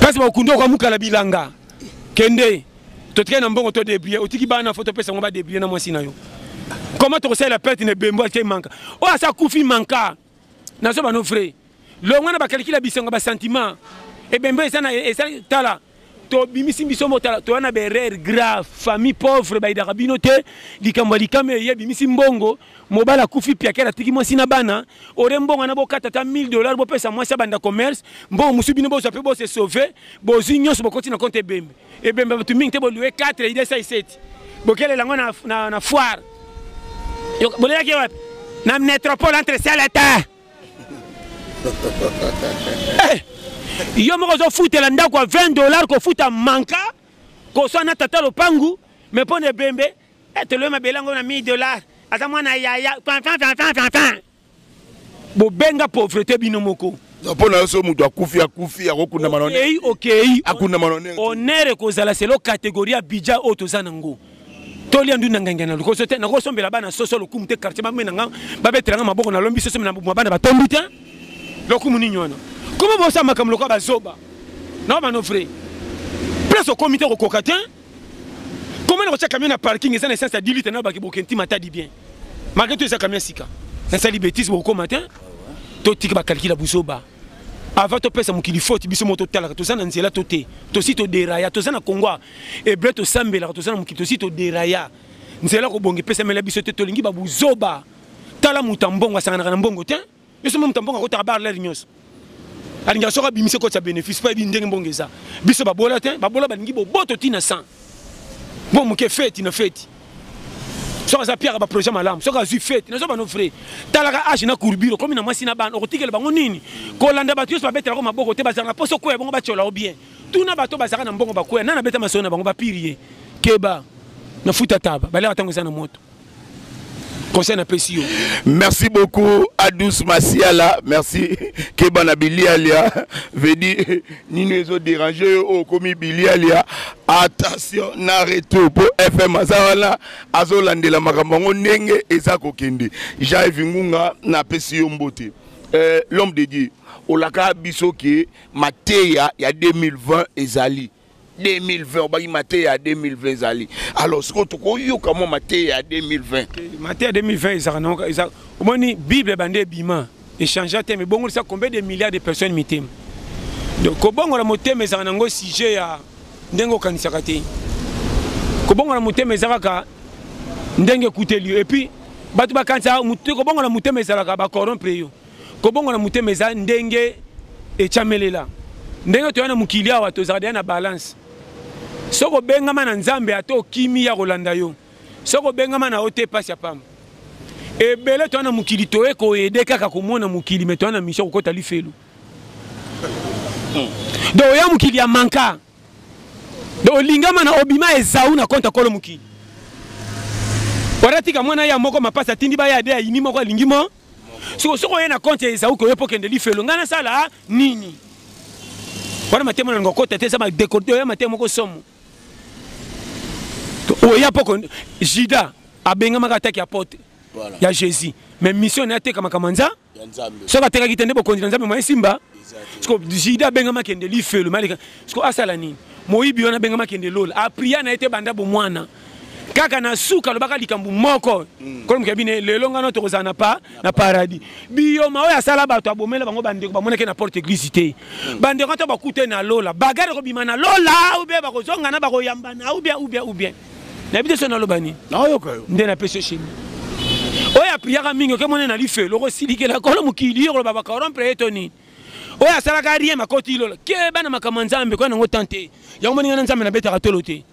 kasi bakundi okamukala bilanga kende totikali na mbongo to debrie otiki bana fo topesa yango badebrie na mwasi na yo koma tokosalela perte na ebembo ake manka oyo asa kufi manka nazo bano vrai longwa na bakalikili ya bisengo basentiment ebembo eza na eza tala tobimisi biso motala toya na berere grave famille pauvre bayidaka bino te likambo ya likama eye ebimisi mbongo mobali akufi piakere atiki mwasi na bana ore mbongo na bokata ata 1000 dollar bopesa mwasi abanda commerce mbongo mosusu bino bozwa mpe bose sauve bozwi nyonso bokoti na konte ebembe ebembe bato mingi te bolue 4 idesa iseti bokelela yango na, na, na foire bolelaki wapi na metropole entre ciel et terre eh, yo moko ozofutela ndako ya 20 dollar kofuta manka koswa na tata lopangu me mpo na ebembe Eh, toloi mabele yango na 1000 dollars aza mwana yaya bobenga pauvreté bino moko mpo na yo soki moto akufi akufi akokundama na okei okei akundama na onere onere ekozala selo kategorie ya bidja oyo toza nango tolia ndu na ngenge na lokoso te nakosombela bana soso lokumu te quartier bambe na nga babetela nga maboko nalombi soso na mwa bana batombi te lokumu nini wana koma bosala makambo lokola bazoba na bano vrai place okomi te kokoka te Comment on camion na parking eza na essence ya 10 litres na baki bokenti matadi bien. Malgré tout eza camion sika. Na sali bêtise boko matin. To tika ba calcul ya buzoba. Avant to pesa mokili faute biso moto talaka toza na nzela to te. Tosi to deraya toza na Congo. Ebre to sambelaka toza na mokili tosi to deraya. Nzela ko bonge pesa mela biso te tolingi ba buzoba. Tala muta mbongo asanganaka na mbongo te. biso meme tamboka kotaka bar lere nyonso alinga soki abimisi ekoti ya bénéfice mpo ayebi ndenge mbongo eza biso babola te babola balingi boboto ntina 100 mpo moke feti na feti soki aza piaka baprojet malamu soki azwi feti nazo bano vrai talaka age na courbure okomi na mwasi na bana okotikela bango nini kolanda bato nyonso babetelako maboko te bazala na mposo okwea bango batyola o bien tuna bato bazalaka na mbongo bakwea nani abeta masolo na bango bapiri ye keba na futa taba baleka ntango eza na moto conseil napesi yo merci beaucoup adus masiala merci keba na bilialia vedi nini ezo dérange yo oyo okomi bilialia attention na retour mpo fm aza wana azolandela makambo yango ndenge eza kokende jai vingunga napesi yo mbote euh, l'homme de dieu olaka biso ke mateya ya 2020 ezali 2020 obaki mateya ya 2020 ezali alors sikoyo tokoyoka mwa mateya ya 2020 mateya 2020 ezalaka eza omoni bible ebandi ebima echangea te mebongolisa combien de milliards de personnes mitema donc kobongola motema ezalaka nango sujet ya ndenge okanisaka te kobongola motema eza kaka ndenge ekuteli yo epuis bato bakanisaka kobongola motema ezalaka bacorrompre yo kobongola motema eza ndenge etyamelela ndenge toya na mokili awa tozalaka deya na balance soki obengama na nzambe ata okimi ya kolanda yo soki obengama na yo te mpasi ya pamba ebele toya na mokili toye koyede kaka komona mokili me toya na misio kokota lifelo hmm. do oya mokili ya manka do olingama na obima ezau na konta kolo mokili waratika mwana ya moko mapasi atindi baya ade ayini moko alingi mo siko soki oye na compte ya ezauki oye mpo kende lifelo ngai nasala nini wana matemo nalinga okota te eza badekorde oya matemo moko somo oya mpo jida abengamaka ataki ya pote ya jésus mais mission na ye ateka makambo nza soki atekaki te nde bokonzi na nzambe moye simba siko jida abengama kende lifelo maleka siko asala nini moyibi wana abengama kende lola apria na ye te banda bomwana kaka na suka alobaka likambo moko mm. kolomka bine lelo ngano tokozala na pa na paradis biyoma oyo asala bato abomela bango bandeko bamonaki na porte eglise te mm. bandeko to bakute na lola bagare kobima na lola oubien bakozongana bakoyambana oubien oubien oubien nayebi te so naloba nini nde napesi shemi oyo apriyaka mingi okemone na lifelo okosilikela kolo mokili yo koloba bakorompre ye to nini oyo asalaka rien makoti lola keba na makambo ya nzambe koya nango tante yango moninga na nzambe nabetaka tolo te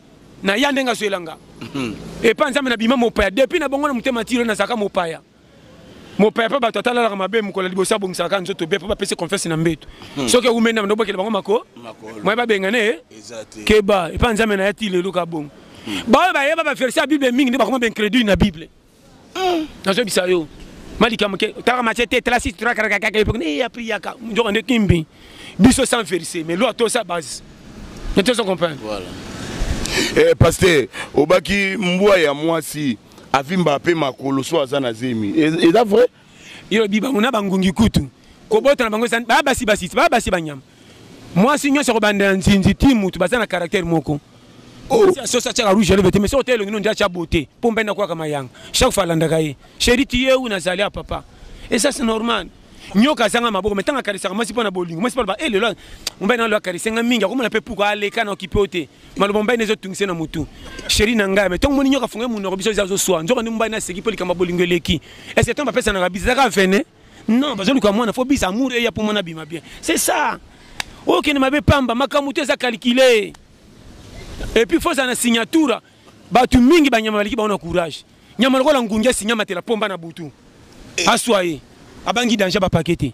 na ya ndenge azwela nga mhm. epa nzambe na bima mopaya depuis na bongo na motema tilo nazalaka mopaya mopaya mpe bato atalalaka mabe mokolo liboso abongisalaka nzoto be mpo bapesi confiance na mbeto mhm. soki eumeli na bandobokela bango mako moye babengana ye keba epa nzambe na ya ti lelo ka bongo mhm. baoyo bayeba baverse ya bible mingi nde bakoma baincredule na bible Hmm, nazo bisa yo. Malika moke tara mache te tala si tara kaka kaka epoque ne ya priya ka njoka ne kimbi. Biso sans verser mais loi to sa base. Ne te comprendre. Voilà. Eh pasteur, obaki mbwa ya mwasi avimba pe makolo so aza na zemi. Est-ce vrai? Yo bi bango na bangungi kutu. Kobota na bango ezan ba basi basi ba basi banyama. Mwasi nyonso akobanda na nzinzi ti mutu baza na caractère moko. Oh. Sosi atiaka rouge elobete mais soki otelongi no ndia tia beauté mpo mpe nakwaka mayanga chaque fois alandaka ye chéri tiye ou nazali ya papa et ça c'est normal nyoka azanga maboko me ntango akarisaka mwasi mpo na bolingo mwasi mpo aloba e eh, lelo mobali na lelo akarisi nga mingi akomona mpe puku aleka na okipe yo te maloba mobali ezo tungise na mutu sheri na ngai me ntongo moni nyoka afungai munoko biso eza azoswa nzoka nde mobali naseki mpo likambo ya bolingo eleki ese ntango bapesanaka biza ezaka vene non bazoluka mwana fo bisa amour eya mpo mwana abima bien c'est ça okende mabe pamba makambo to eza calcule epuis fo ozala na signature bato mingi banyama baleki bango na courage nyama lokola ngungi asinyamatela pomba na butu eh. aswa ye abangi danger bapake te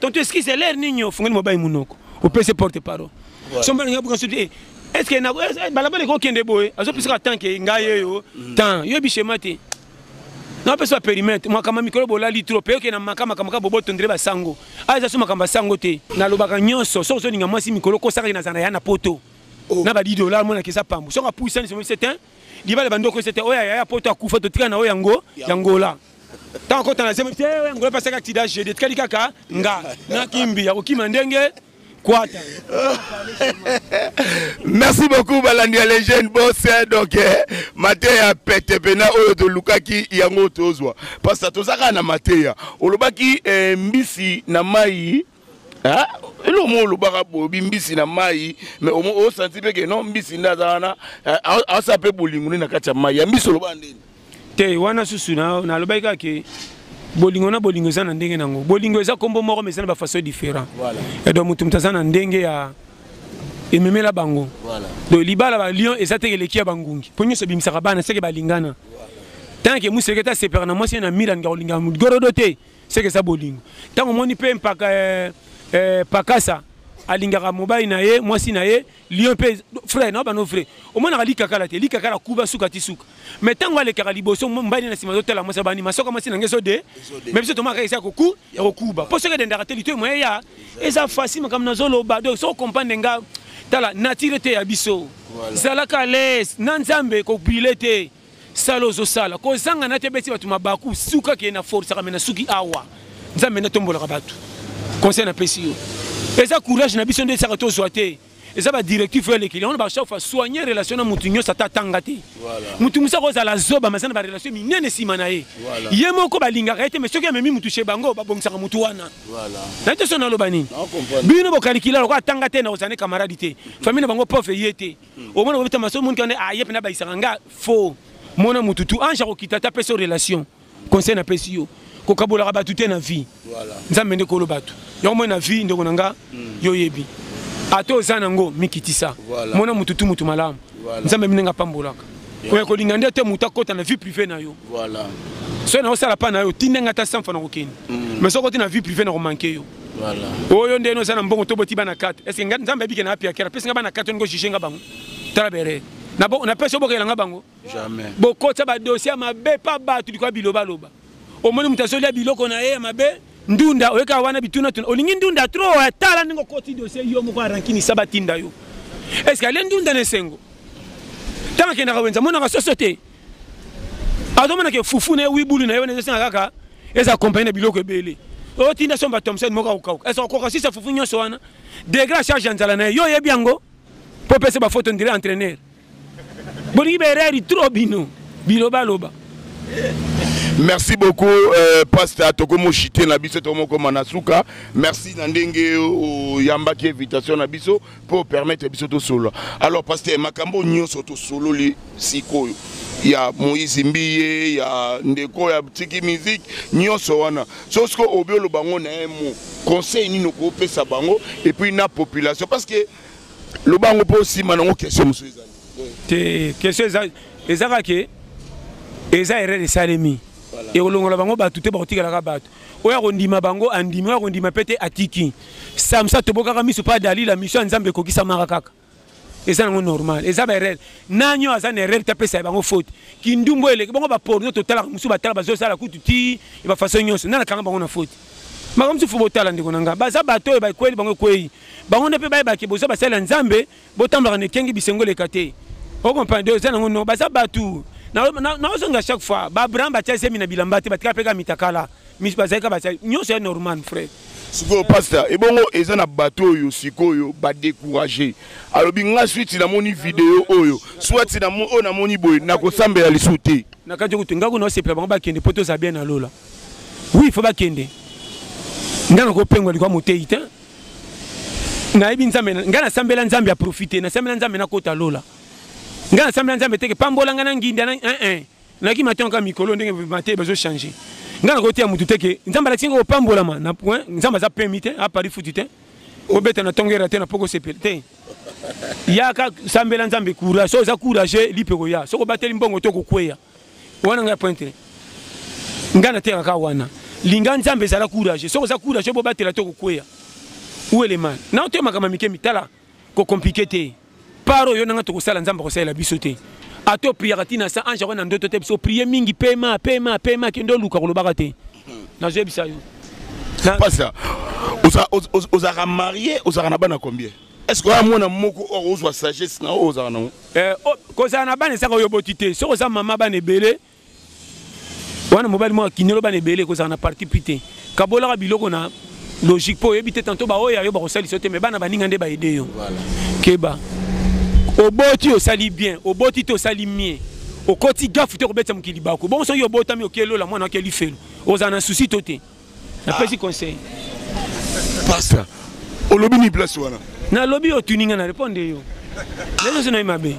Tonto excuse l'air nini ofungeli mobali munoko. Opese porte parole. Somba nga buka sote. Est-ce que na balabala ko kende boye? Azo pesa tant que ngai yeyo. Tant yo bichema te. Na pesa périmètre. Mwa kama mikolo bolali trop. Peyo ke na makama kama bobo tondre ba sango. Aza suma kamba sango te. Na lobaka nyonso. Sozo ninga mwasi mikolo ko saka na zana ya na poto. Oh. Na ba 10 dollars mona kisa pambu. Soka puisa ni somo c'est un. Libala bandoko c'est un. Oya ya poto akufa to tika na oya ngo. Yangola. ntango akota na zemi te ngoye pasaki aksida jede etikali kaka nga na kimbi ya kokima ndenge kwata merci beaucoup balandi ya legende bos eh, donc eh, mateya pete mpena oyo tolukaki yango tozwa parce que tozaka na mateya olobaki eh, mbisi na mai Hein? elo mo olobaka bobi mbisi na mai mais omo osanti mpe ke non mbisi nde aza wana asa mpe bolingo nde na kati ya mai ya mbisi olobaka ndeni te wana susu nalobaki kaka ke bolingo na bolingo eza na ndenge na yango bolingo eza nkombo moko mais eza na bafaçon différent edo moto moto aza na ndenge ya ememela bango donc libala balion eza teke eleki ya bangungi mpo nyonso ebimisaka bana seke balingana ntango ke moseketa asepelaka na mwasi ye na milan ngakolinga gorodo te seke eza bolingo ntango omoni mpe mpaka eh, eh, pakasa alingaka mobali na ye mwasi na ye lion mpe frère na bano vrai omonaka likakala te likakala kuba suka ti suka mais ntango alekaka liboso mobali na nsima azotala mwasi abandi masoka mwasi na nge ezode mais biso tomaka eza koku ya kokuba mpo soki edendaka te litoyi moye ya eza fasi makambo nazoloba donc soko comprendre nga tala natire te ya biso zalaka les na nzambe kobile te sala ozosala kozanga na te beti bato mabaku suka ke na forisaka me na suki awa nzambe nde atombolaka bato conseil napesi yo eza courage na biso nde esaka tozwa te eza badirectif oyo elekeli yango na bachaque fois soigne relation na motu nyonso ata atanga te motu mosu akozala zoba maza na barelation minene nsima na ye ye moko balingaka ye te mai soki amemi motu chez bango babongisaka motu wana naye te so naloba nini bino bokalikila lokola atanga te na ozane camarade te famille na bango pauvre ye te omona kobeta maso monika nde aye mpe nabayisaka nga faux mona motu tu ange akokita ta pesa relation conseil napesi yo kokabolaka bato te na vie nzambe nde kolo bato yango moi na vie ndeko na nga hmm. yo oyebi ata oza nango mikitisa mona motu tu motu malamu nzambe minenge apambolaka oya kolinga nde te motu akota na vie privé na yo soki naosala mpa na yo tindenge ata sanfa na kokende hmm. mais soki oti na vie privé na komanke yo Voilà. Oyo ndeno oza na mbongo to boti bana carte. Est-ce que nzambe abike na apia kera? Pesa nga bana carte ngo juger nga bango. Tala bere. Na bo na pesa bokela nga bango. Jamais. Bokotsa ba dossier mabe pa batu bikwa biloba loba. Omoni mutu azolia biloko na ye ya mabe. Ndunda oyeka wana bituna tuna. Olingi ndunda trop ya tala ndingo koti dossier yo moko arankini saba tinda yo. Est-ce que ale ndunda na esengo? Tanga kenda ka wenza mona ka soso te. azomona ke fufu na ye wibulu na ye wana ezosenga kaka eza accompagne na biloko ebele otinda oh, somba thomson moko akokauka esa okoka sisa fufu nyonso wana degre ya charge ya nzala na ye yo oyebi yango mpo opesa bafoto ndire entraîneur bolingi baerreur trop bino bilobaloba merci beaucoup euh, pasta tokomoshite na biso tokomokoma na suka merci na ndenge oyambaki invitation na biso pour permettre biso tosolola alors pasteur makambo nyonso tosololi sikoyo ya moïse mbiye ya ndeko ya tiki musique nyonso wana so siko obi oloba yango na ye mo conseil nini okopesa bango epuis na population parce que loba yango mpo osima nango question mosusu ezali te question eza eza kaka ke eza erreur esalemi ekolongola bango bato te bakotikalaka bato oyo akondima bango andimi oyo akondima mpe te atiki samsa tobokaka miso mpe adalila miso ya nzambe ekokisamaka kaka eza nango normal eza baerreur nani oyo aza na erreur te apesa ya bango faute kindumbu oyo eleki bango baporno totalaka mosusu batala bazosala kutu ti ya bafaçon nyonso nani akanga bango na faute makambo mosusu fo botala ndeko na ngai baza bato oyo bakweli bango ekwei bango nde mpe bayebake boza basali ya nzambe botambolaka na ekengi bisengo eleka te okomprendre oza nango no baza bato naozonga chaque fois baabraham batya zemi na bilamba te batika mpeka mitakala bazalika batya nyonso ya normal frère sikoyo pasta ebongo eza na bato oyo sikoyo badécourage alobi nga switi namoni video oyo swati oyo namoni boye nakosambela lisu te na kati okutu ngai kuna osepela bango bakende mpo tozala bien na lola wi fo bakende ngai nakopengwa likwa moteyi te nayebi nzambe ngai nasambela nzambe ya profite nasambela nzambe nakota lola ngai nasambela nzambe teke pambola ngai na nginda eh, eh. naki matanga kaka mikolo ndenge mate bazochange ngai nakoteya motu teke nzambe alakisi ngai kopambolama na point eh, nzambe aza pemi te apari futi te obeta na ntongo era te na poko sepele te yaka sambela nzambe courage so oza courage lipe koya soki obateli mbongo to kokweya wana ngai pointre ngai nateyaka kaka wana linga nzambe ezala courage soki oza courage bobatela to kokweya uelema na otoye makambo mike mitala kokomplike te par oyo nanga tokosala nzambe akosalela biso te ata opriyaka ntina sa ange akwai na ndoto te biso oprie mingi pema pema pema kende oluka kolobaka te nazoyebisa yo pasa ozalaka marie ozalaka na bana combien Est-ce que mwana moko oyo ozwa sagesse na oyo ozala nango eh, oh, kozala na bana ezaka oyo boti te soki oza mama bana ebele wana mobali moko akinelo bana ebele kozala na parti pi te kabolaka biloko na logique mpo oyebi te tanto baoyo ya yo bakosalisa yo te me bana baninga nde baede yo keba oboti osali bien oboti te osali mie okoti gafu te kobetisa mokili bako bongo soki obotami okelola mwana akeli felo ozala na susi to te Na pesi conseil. Pasta, olobi ni place wana. Na lobi otuni nga na répondre yo. Nazo sona mabe.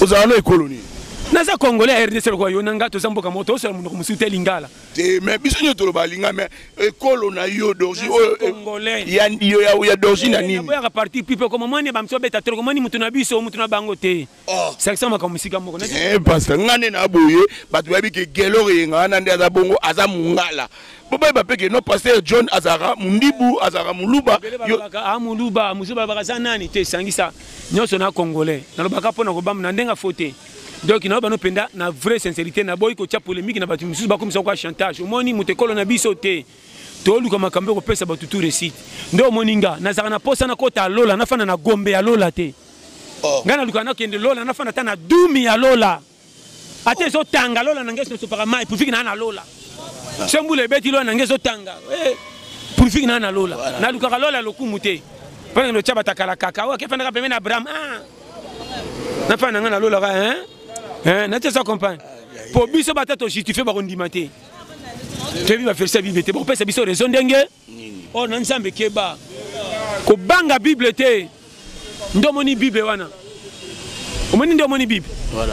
Ozala na ekolo nini? naza congolais ya rdc lokola yo na ngai toza mboka moko toosala monoko mosusu te lingala te mais biso nyonso toloba linga mais ekolo na yo dorgi oyo eh, eh, ya dorgi na eh, nini boyaka parti pipe koma mwani bamiso babeta toloko mwani moto na biso moto na bango te Oh. sakisa makambo esika moko eh, pasta ngai nde na boye bato bayebi ke gelor eyenga wana nde aza bongo aza mongala bobayeba mpe ke no paster john azalaka mondibu azalaka moluba ah, moluba mosusu balobaka aza nani te esangisa nyonso na congolais nalobaka mpo na kobamba na ndenge afo te donc na bano mpenza na vraie sincérité naboyi kotya polémique na bato mosusu bakomisa kwa chantage omoni moto ekolo na biso te toluka makambo ekopesa bato tu resite nde omoni nga nazalaka na mposa nakota ya lola nafanda na gombe ya lola te oh. ngai nalukaka nakende lola nafanda ata na dumi ya lola ata ezotanga lola na ngai esosopaka mai purifiki naa na lola ah. so mbula ebeti lola na ngai ezotanga eh, purifiki naa na lola nalukaka lola ya lokumu te mpo nakende otya batakala kaka oyo akefandaka pembe na abraham ah. nafanda na ngai na lolaka eh? eh, natiesa compagne mpo biso bata tojustifie bakondima te toyebi baverse ya bible te bakopesa biso raison ndenge oyo oh, na nzambe keba kobanga bible te nde omoni bible wana omoni nde omoni bible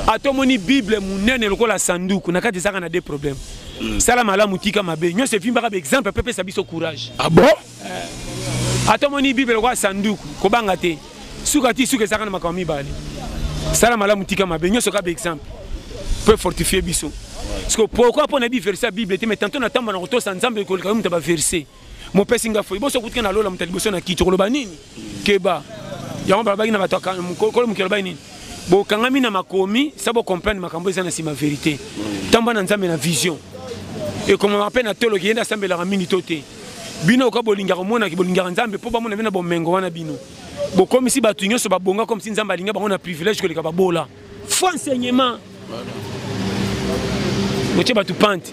ata omoni bible monene lokola sanduku na kati ezaka na de problème hmm. sala malamu tika mabe nyonso efimbaka baexemple mpe pesa biso courage ah bon ata omoni bible lokola sanduku kobanga te suka ti suka ezalaka na makambo mibale sala malamu tika mabe nyonso kaka baexemple mpo efortifie biso siko pourkui mpo nayebi verse ya bible te mai tanto natamba na kotosa nzambe koleka yo moto ya baverse mopesi nga foi boso okutika na lola moto ya liboso na kiti okoloba nini keba yango balobaki na bato kolo mokili alobaki nini bokangami na makomi sa bocomprendre makambo eza na nsima verité tamba na nzambe na vision ekomama mpe na tolo kiyende asambelaka mingi to te bino oka bolingaka omonaki bolingaka nzambe mpo bamona bino na bomengo wana bino bokomisi bato nyonso babonga comme si nzambe alinga bango na privilège koleka babola fo enseignement botie bato pante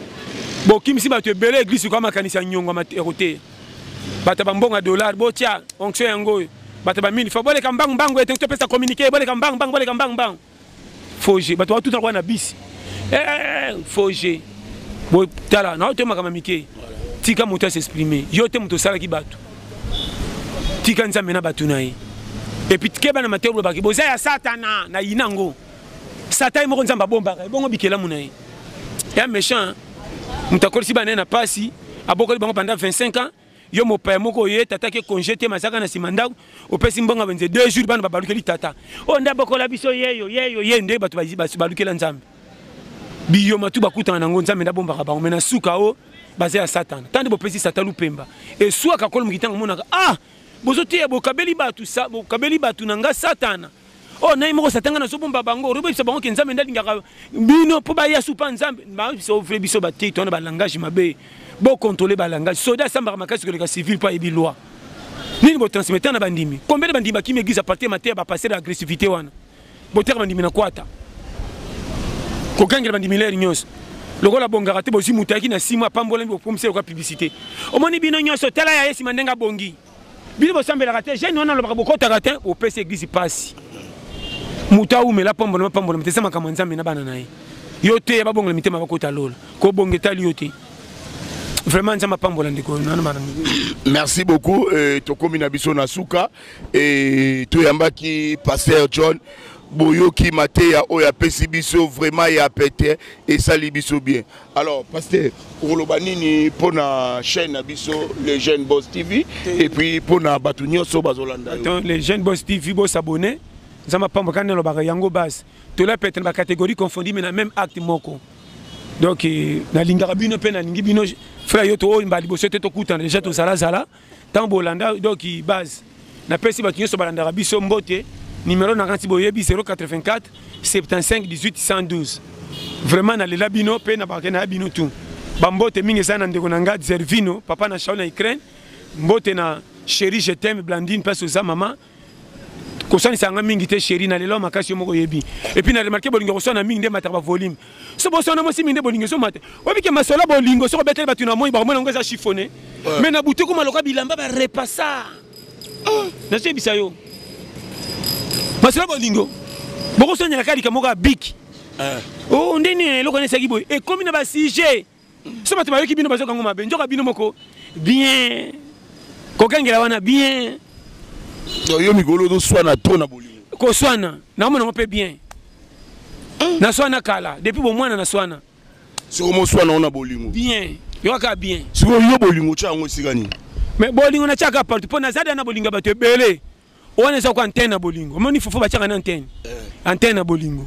bokimisi bato ebele eglise oka makanisi ya nyongo ya koteya bato ya bambongo ya dollar botya onction yango oyo bato ya bamini fo boleka mbangu mbangu ete topesa communiqué boleka mbangu mbangu boleka mbangu mbangu foge bato batuta kwa na bisi eh, eh, eh, foge botala na oyo makambo mike tika moto asexprime yo te moto osalaki bato tika nzambe na bato na ye epuis keba na mateyo bolobaki boza ya satana na yina yango satan ye moko nzambe abombaka ye bongo bikelamu na ye ya méchant moto akolisi bana ye na mpasi abokoli bango pendant 25 ans yo mopaya moko oye tata ke congé te mazaka na nsima ndako opesi mbongo benze deux jours bana babalukeli tata oyo oh, nde abokola biso yeyo yeyo ye nde bato balukela nzambe biyoma tu bakutana nango nzambe nde abombaka bango me na suka o oh, baza ya satana ntango nde bopesi satana lupemba eswaka kolo moki ntango omonaka ah bozoteya bokabeli bato bokabeli bato na nga satana oyo oh, nai moko satan ngai nazobomba bango olobi oyebisa bango ke nzambe nde alingaka bino mpo baya supa nzambe bayebisa ovre biso batei to wana balangage mabe bokontrole balangage soda asambaka makasi koleka civil mpo ayebi loi nini botransmettre na bandimi combien de bandimi bakimi eglise apartir mateya bapasser ya agressivité wana botiaka bandimi na kwata kokangela bandimi lere nyonso lokola bongaka te bozwi moto ayaki na sima apambolami bokomisa yoka publicité omoni bino nyonso tala ya ye nsima ndenge abongi bino bosambelaka te jeune wana alobaka bokotaka te opesi eglise pasi moto awumela pambolama pambolama te eza makambo ya nzambe na bana na ye yo te babongola mitema bakota lola kobonga etali yo te vraiment nzambe apambola ndeko merci beaucoup euh, tokomi na biso na suka e toyambaki pasteur john boyoki mateya oyo apesi biso vraiment ya pete esali biso bien Alors, pasteur, okoloba nini mpo na chaîne na biso le jeune boss tv et puis mpo na bato nyonso bazolanda le jeune boss tv bosabone nzambe apamba kani nalobaka yango base tola pete na bacatégorie confondi me na même acte moko donc eh, nalingaka bino mpe nalingi bino frère yo tooyimba liboso te tokutana deja tozalazala Tango bolanda donc base na pesi bato nyonso balandaka biso mbote numero na kanti boyebi 084 75 18 112 vraiment nalela bino mpe na bakena ya bino tout bambote mingi eza na ndeko na ngai zervino papa na shaol na ukraine mbote na chéri je t'aime blandine mpasi oza mama kosanisa yanga mingi te sheri na lelo makasi yo moko oyebi epuis na remarke bolingo koswana mingi nde emataka bavolume so boswana mwasi mingi nde bolingo ezomata obike masolo bolingo soko obeteli bato na moi bakomona yango eza chiffone mai na butu ekoma lokola bilamba barepasa ah, nazoyebisa yo masolo bolingo bokoswanela kaka likambo kaka biki eh. o oh, ndeni eloko nesaki boye ekomi na basujet so bato bayoki bino bazoka yango mabe nzoka bino moko bien kokengela wana bien yo mikolo ozoswana tro na bolingo koswana naomona yango mpe bien naswana kala depuis bomwana naswana soko moswana yango na bolingo bien yokaka bien sikoyo yo bolingo otya yango esika nini mais bolingo natyaka partout mpo naza da na bolingo ya bato ebele wana eza ko antenne na bolingo omoni fofo batiaka na antenne eh. antenne na bolingo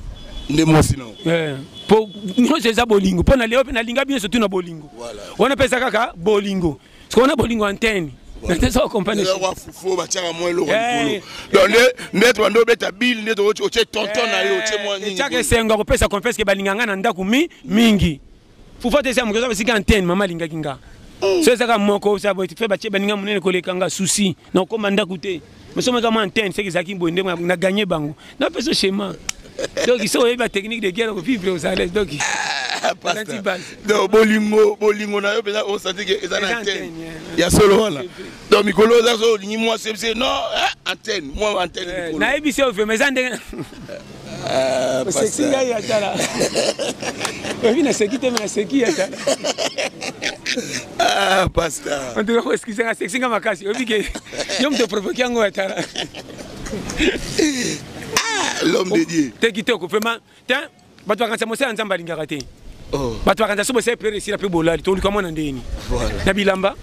nde mwasi na eh. po nyonso eza bolingo mpo na leo mpe nalinga bino surtout na bolingo wana mpe eza kaka bolingo siko wana bolingo antenne fofo batiaka mwa eloko eh. likolo donc nde tobanda obeta bile nde otie tonton na yo otie mwa ninietiaka esengo ya kopesa confiance ke balinga ngai na ndako mi mingi pouvoir te eza moto eza esika antenne mama alingaki nga mm. so ezaka moko fe batie baninga monene koleka nga souci na okoma ndako te mosomaka mwa antenne seke ezalaki boye nde na gagne bango napesa schéma donc so oyebi batechnique de guerre kovivre ozalais donc ah, bolingo bolingo na yo mpenza osantike eza na antenne ya solo wana donc mikolo oza so olingi mwasi oyebisi ye non eh, antenne mwa antenne eh, nayebisi yo vrema eza ndenge eh, oseki ngai ya tala oyebi naseki te me naseki ya tala ah, pasta antuka koeskise nga seki nga makasi oyebi ke yo moto provoke yango ya tala ah, l'homme de dieu te kitoko vrema te bato bakanisa mosala ya nzambe alingaka te oh. bato bakanisa so bosala priere esila mpe bolali toluka mwana ndeni na bilamba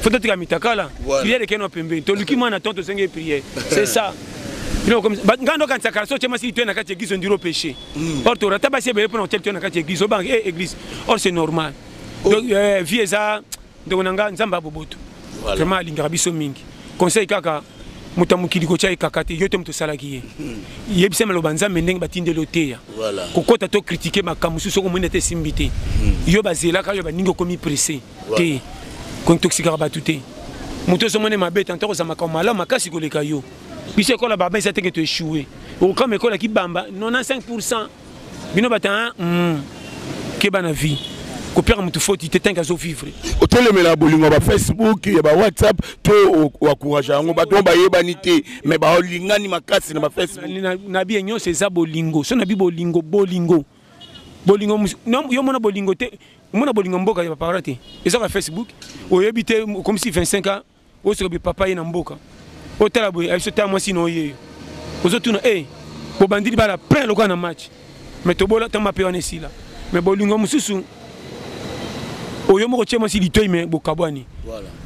fo totika mitakala priere ekeno pembeni toluki mwana to tozenge priere c'est ça ngai ndokanisa kala so otye masi litoye na kati ya eglise ondiri opeche hmm. or tora ata basi ebele mpona kotya litoye na kati ya eglise obanga e eh, eglise or c'est normal oh. eh, vie eza ndeko na nga nzambe ya boboto voilà. vraiment alingaka biso mingi conseil kaka moto ya mokili kotya ye kaka te yo te moto osalaki ye hmm. yebisa maloba nzambe ndenge batindeli oteya kokɔta to kritike makambo mosusu soki omoni ete esimbi te hmm. yo bazelaka yo baningi okomi presse te kontoxikaka bato te moto ozomoni mabe tanta kozala makambo malamu makasi koleka yo biso ekola baba eza teke toechoue okokama ekolaki bamba 95 bino bata hein? mm. keba na vie kopiaka motu foti te tanke azovivre otelemela bolingo ya bafacebook ya bawhatsapp to oakourage yango bato oyo bayebani te mai balingani makasi na bafacebook na biye nyonso eza bolingo so na bi bolingo bolingo bolingo yo mona bolingo te omona bolingo mboka ya baparla te eza ka facebook oyebi te okomisi 25 ans oyo soki bi papa ye na mboka otala boye abiso ta mwasi na oyeyo ozotuna e eh, bobandili bala plein lokola na match me tobola ta mape wana esila me bolingo mosusu oyo moko tie mwasi litoi me bokabwani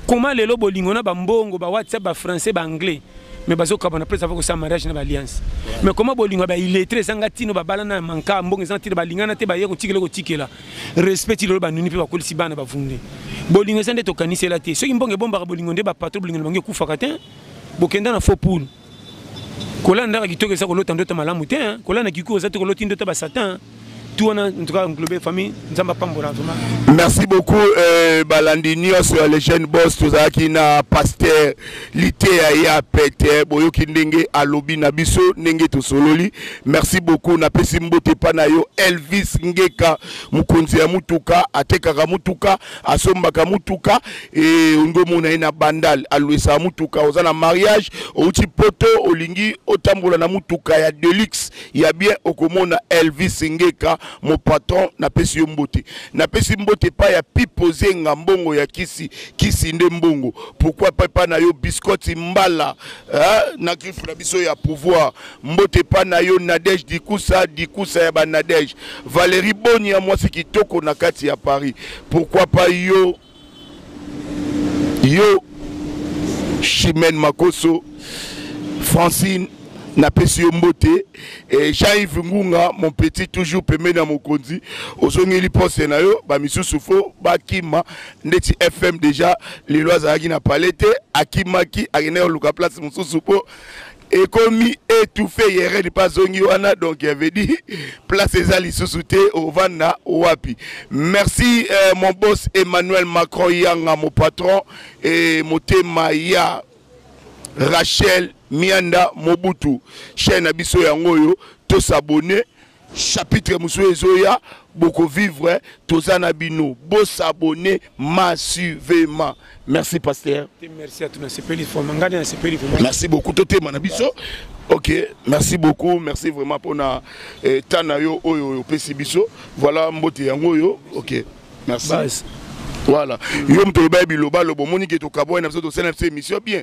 koma lelo bolingo na bambongo ba whatsapp ba français ba anglais me bazokabwana mpe ezava kosala mariage na baalliance me koma bolingo ya bailletre ezanga ntino babalana na manka mbongo ezanga ntina balingana te baye kotikela kotikela respect ti lelo banuni mpe bakolisi bana bavunde bolingo eza nde tokanisela te soki mbongo ebombaka bolingo nde bapatro bolingo na bango ekufaka te bokenda na faux poule kolanda ndaka kitoko eza kolota ndota malamu te kolanda kiku oza te koloti ndota basatan tu wana en tout cas englobe famille nzambe apambola vraiment merci beaucoup euh, balandi nyonso ya legene boss tozalaki na pasteur liteya ya pete boyoki ndenge alobi na biso ndenge tosololi merci beaucoup napesi mbote epa na yo elvis ngeka mokonzi ya motuka atekaka motuka asombaka motuka e olingi omona ye na bandal alwesaka motuka oza na mariage outi poto olingi otambola na motuka ya deluxe ya bien okomona elvis ngeka mo patron napesi yo mbote napesi mbote epa ya pipo zenga mbongo ya kisi kisi nde mbongo pourquoi pas epai na yo biscotti mbala eh, na griffe na biso ya pouvoir mbote epai na yo nadege dikusa dikusa ya banadege valérie boni ya mwasi kitoko na kati ya paris pourquoi pas yo yo chimene makoso francine napesi yo mbote eh, jean-yves ngunga mon petit toujours pembeni ya mokonzi ozongeli poste na yo bamisusu fo bakima ndeti fm deja lelo azalaki na palais te akimaki akendaki koluka place mosusu mpo ekomi étouffé yeredi mpe azongi wana donc avait dit place eza lisusu te ovanda wapi merci euh, mon boss emmanuel macron yanga mon patron et motema ya rachel mianda mobutu chaine na biso yango oyo tosabone chapitre mosusu ezoya bokovivre toza na bino bosabone massivement merci pasteur merci à tunasepeli foma ngani nasepeli vraiment merci beaucoup totema na biso ok merci beaucoup merci vraiment mpona eh, temps na yo oyo opesi biso voilà mbote yango oyo ok merci Bas. voilà yo moto olobaki bilobaloba omoni ke tokabwani na biso tosali na biso émission bien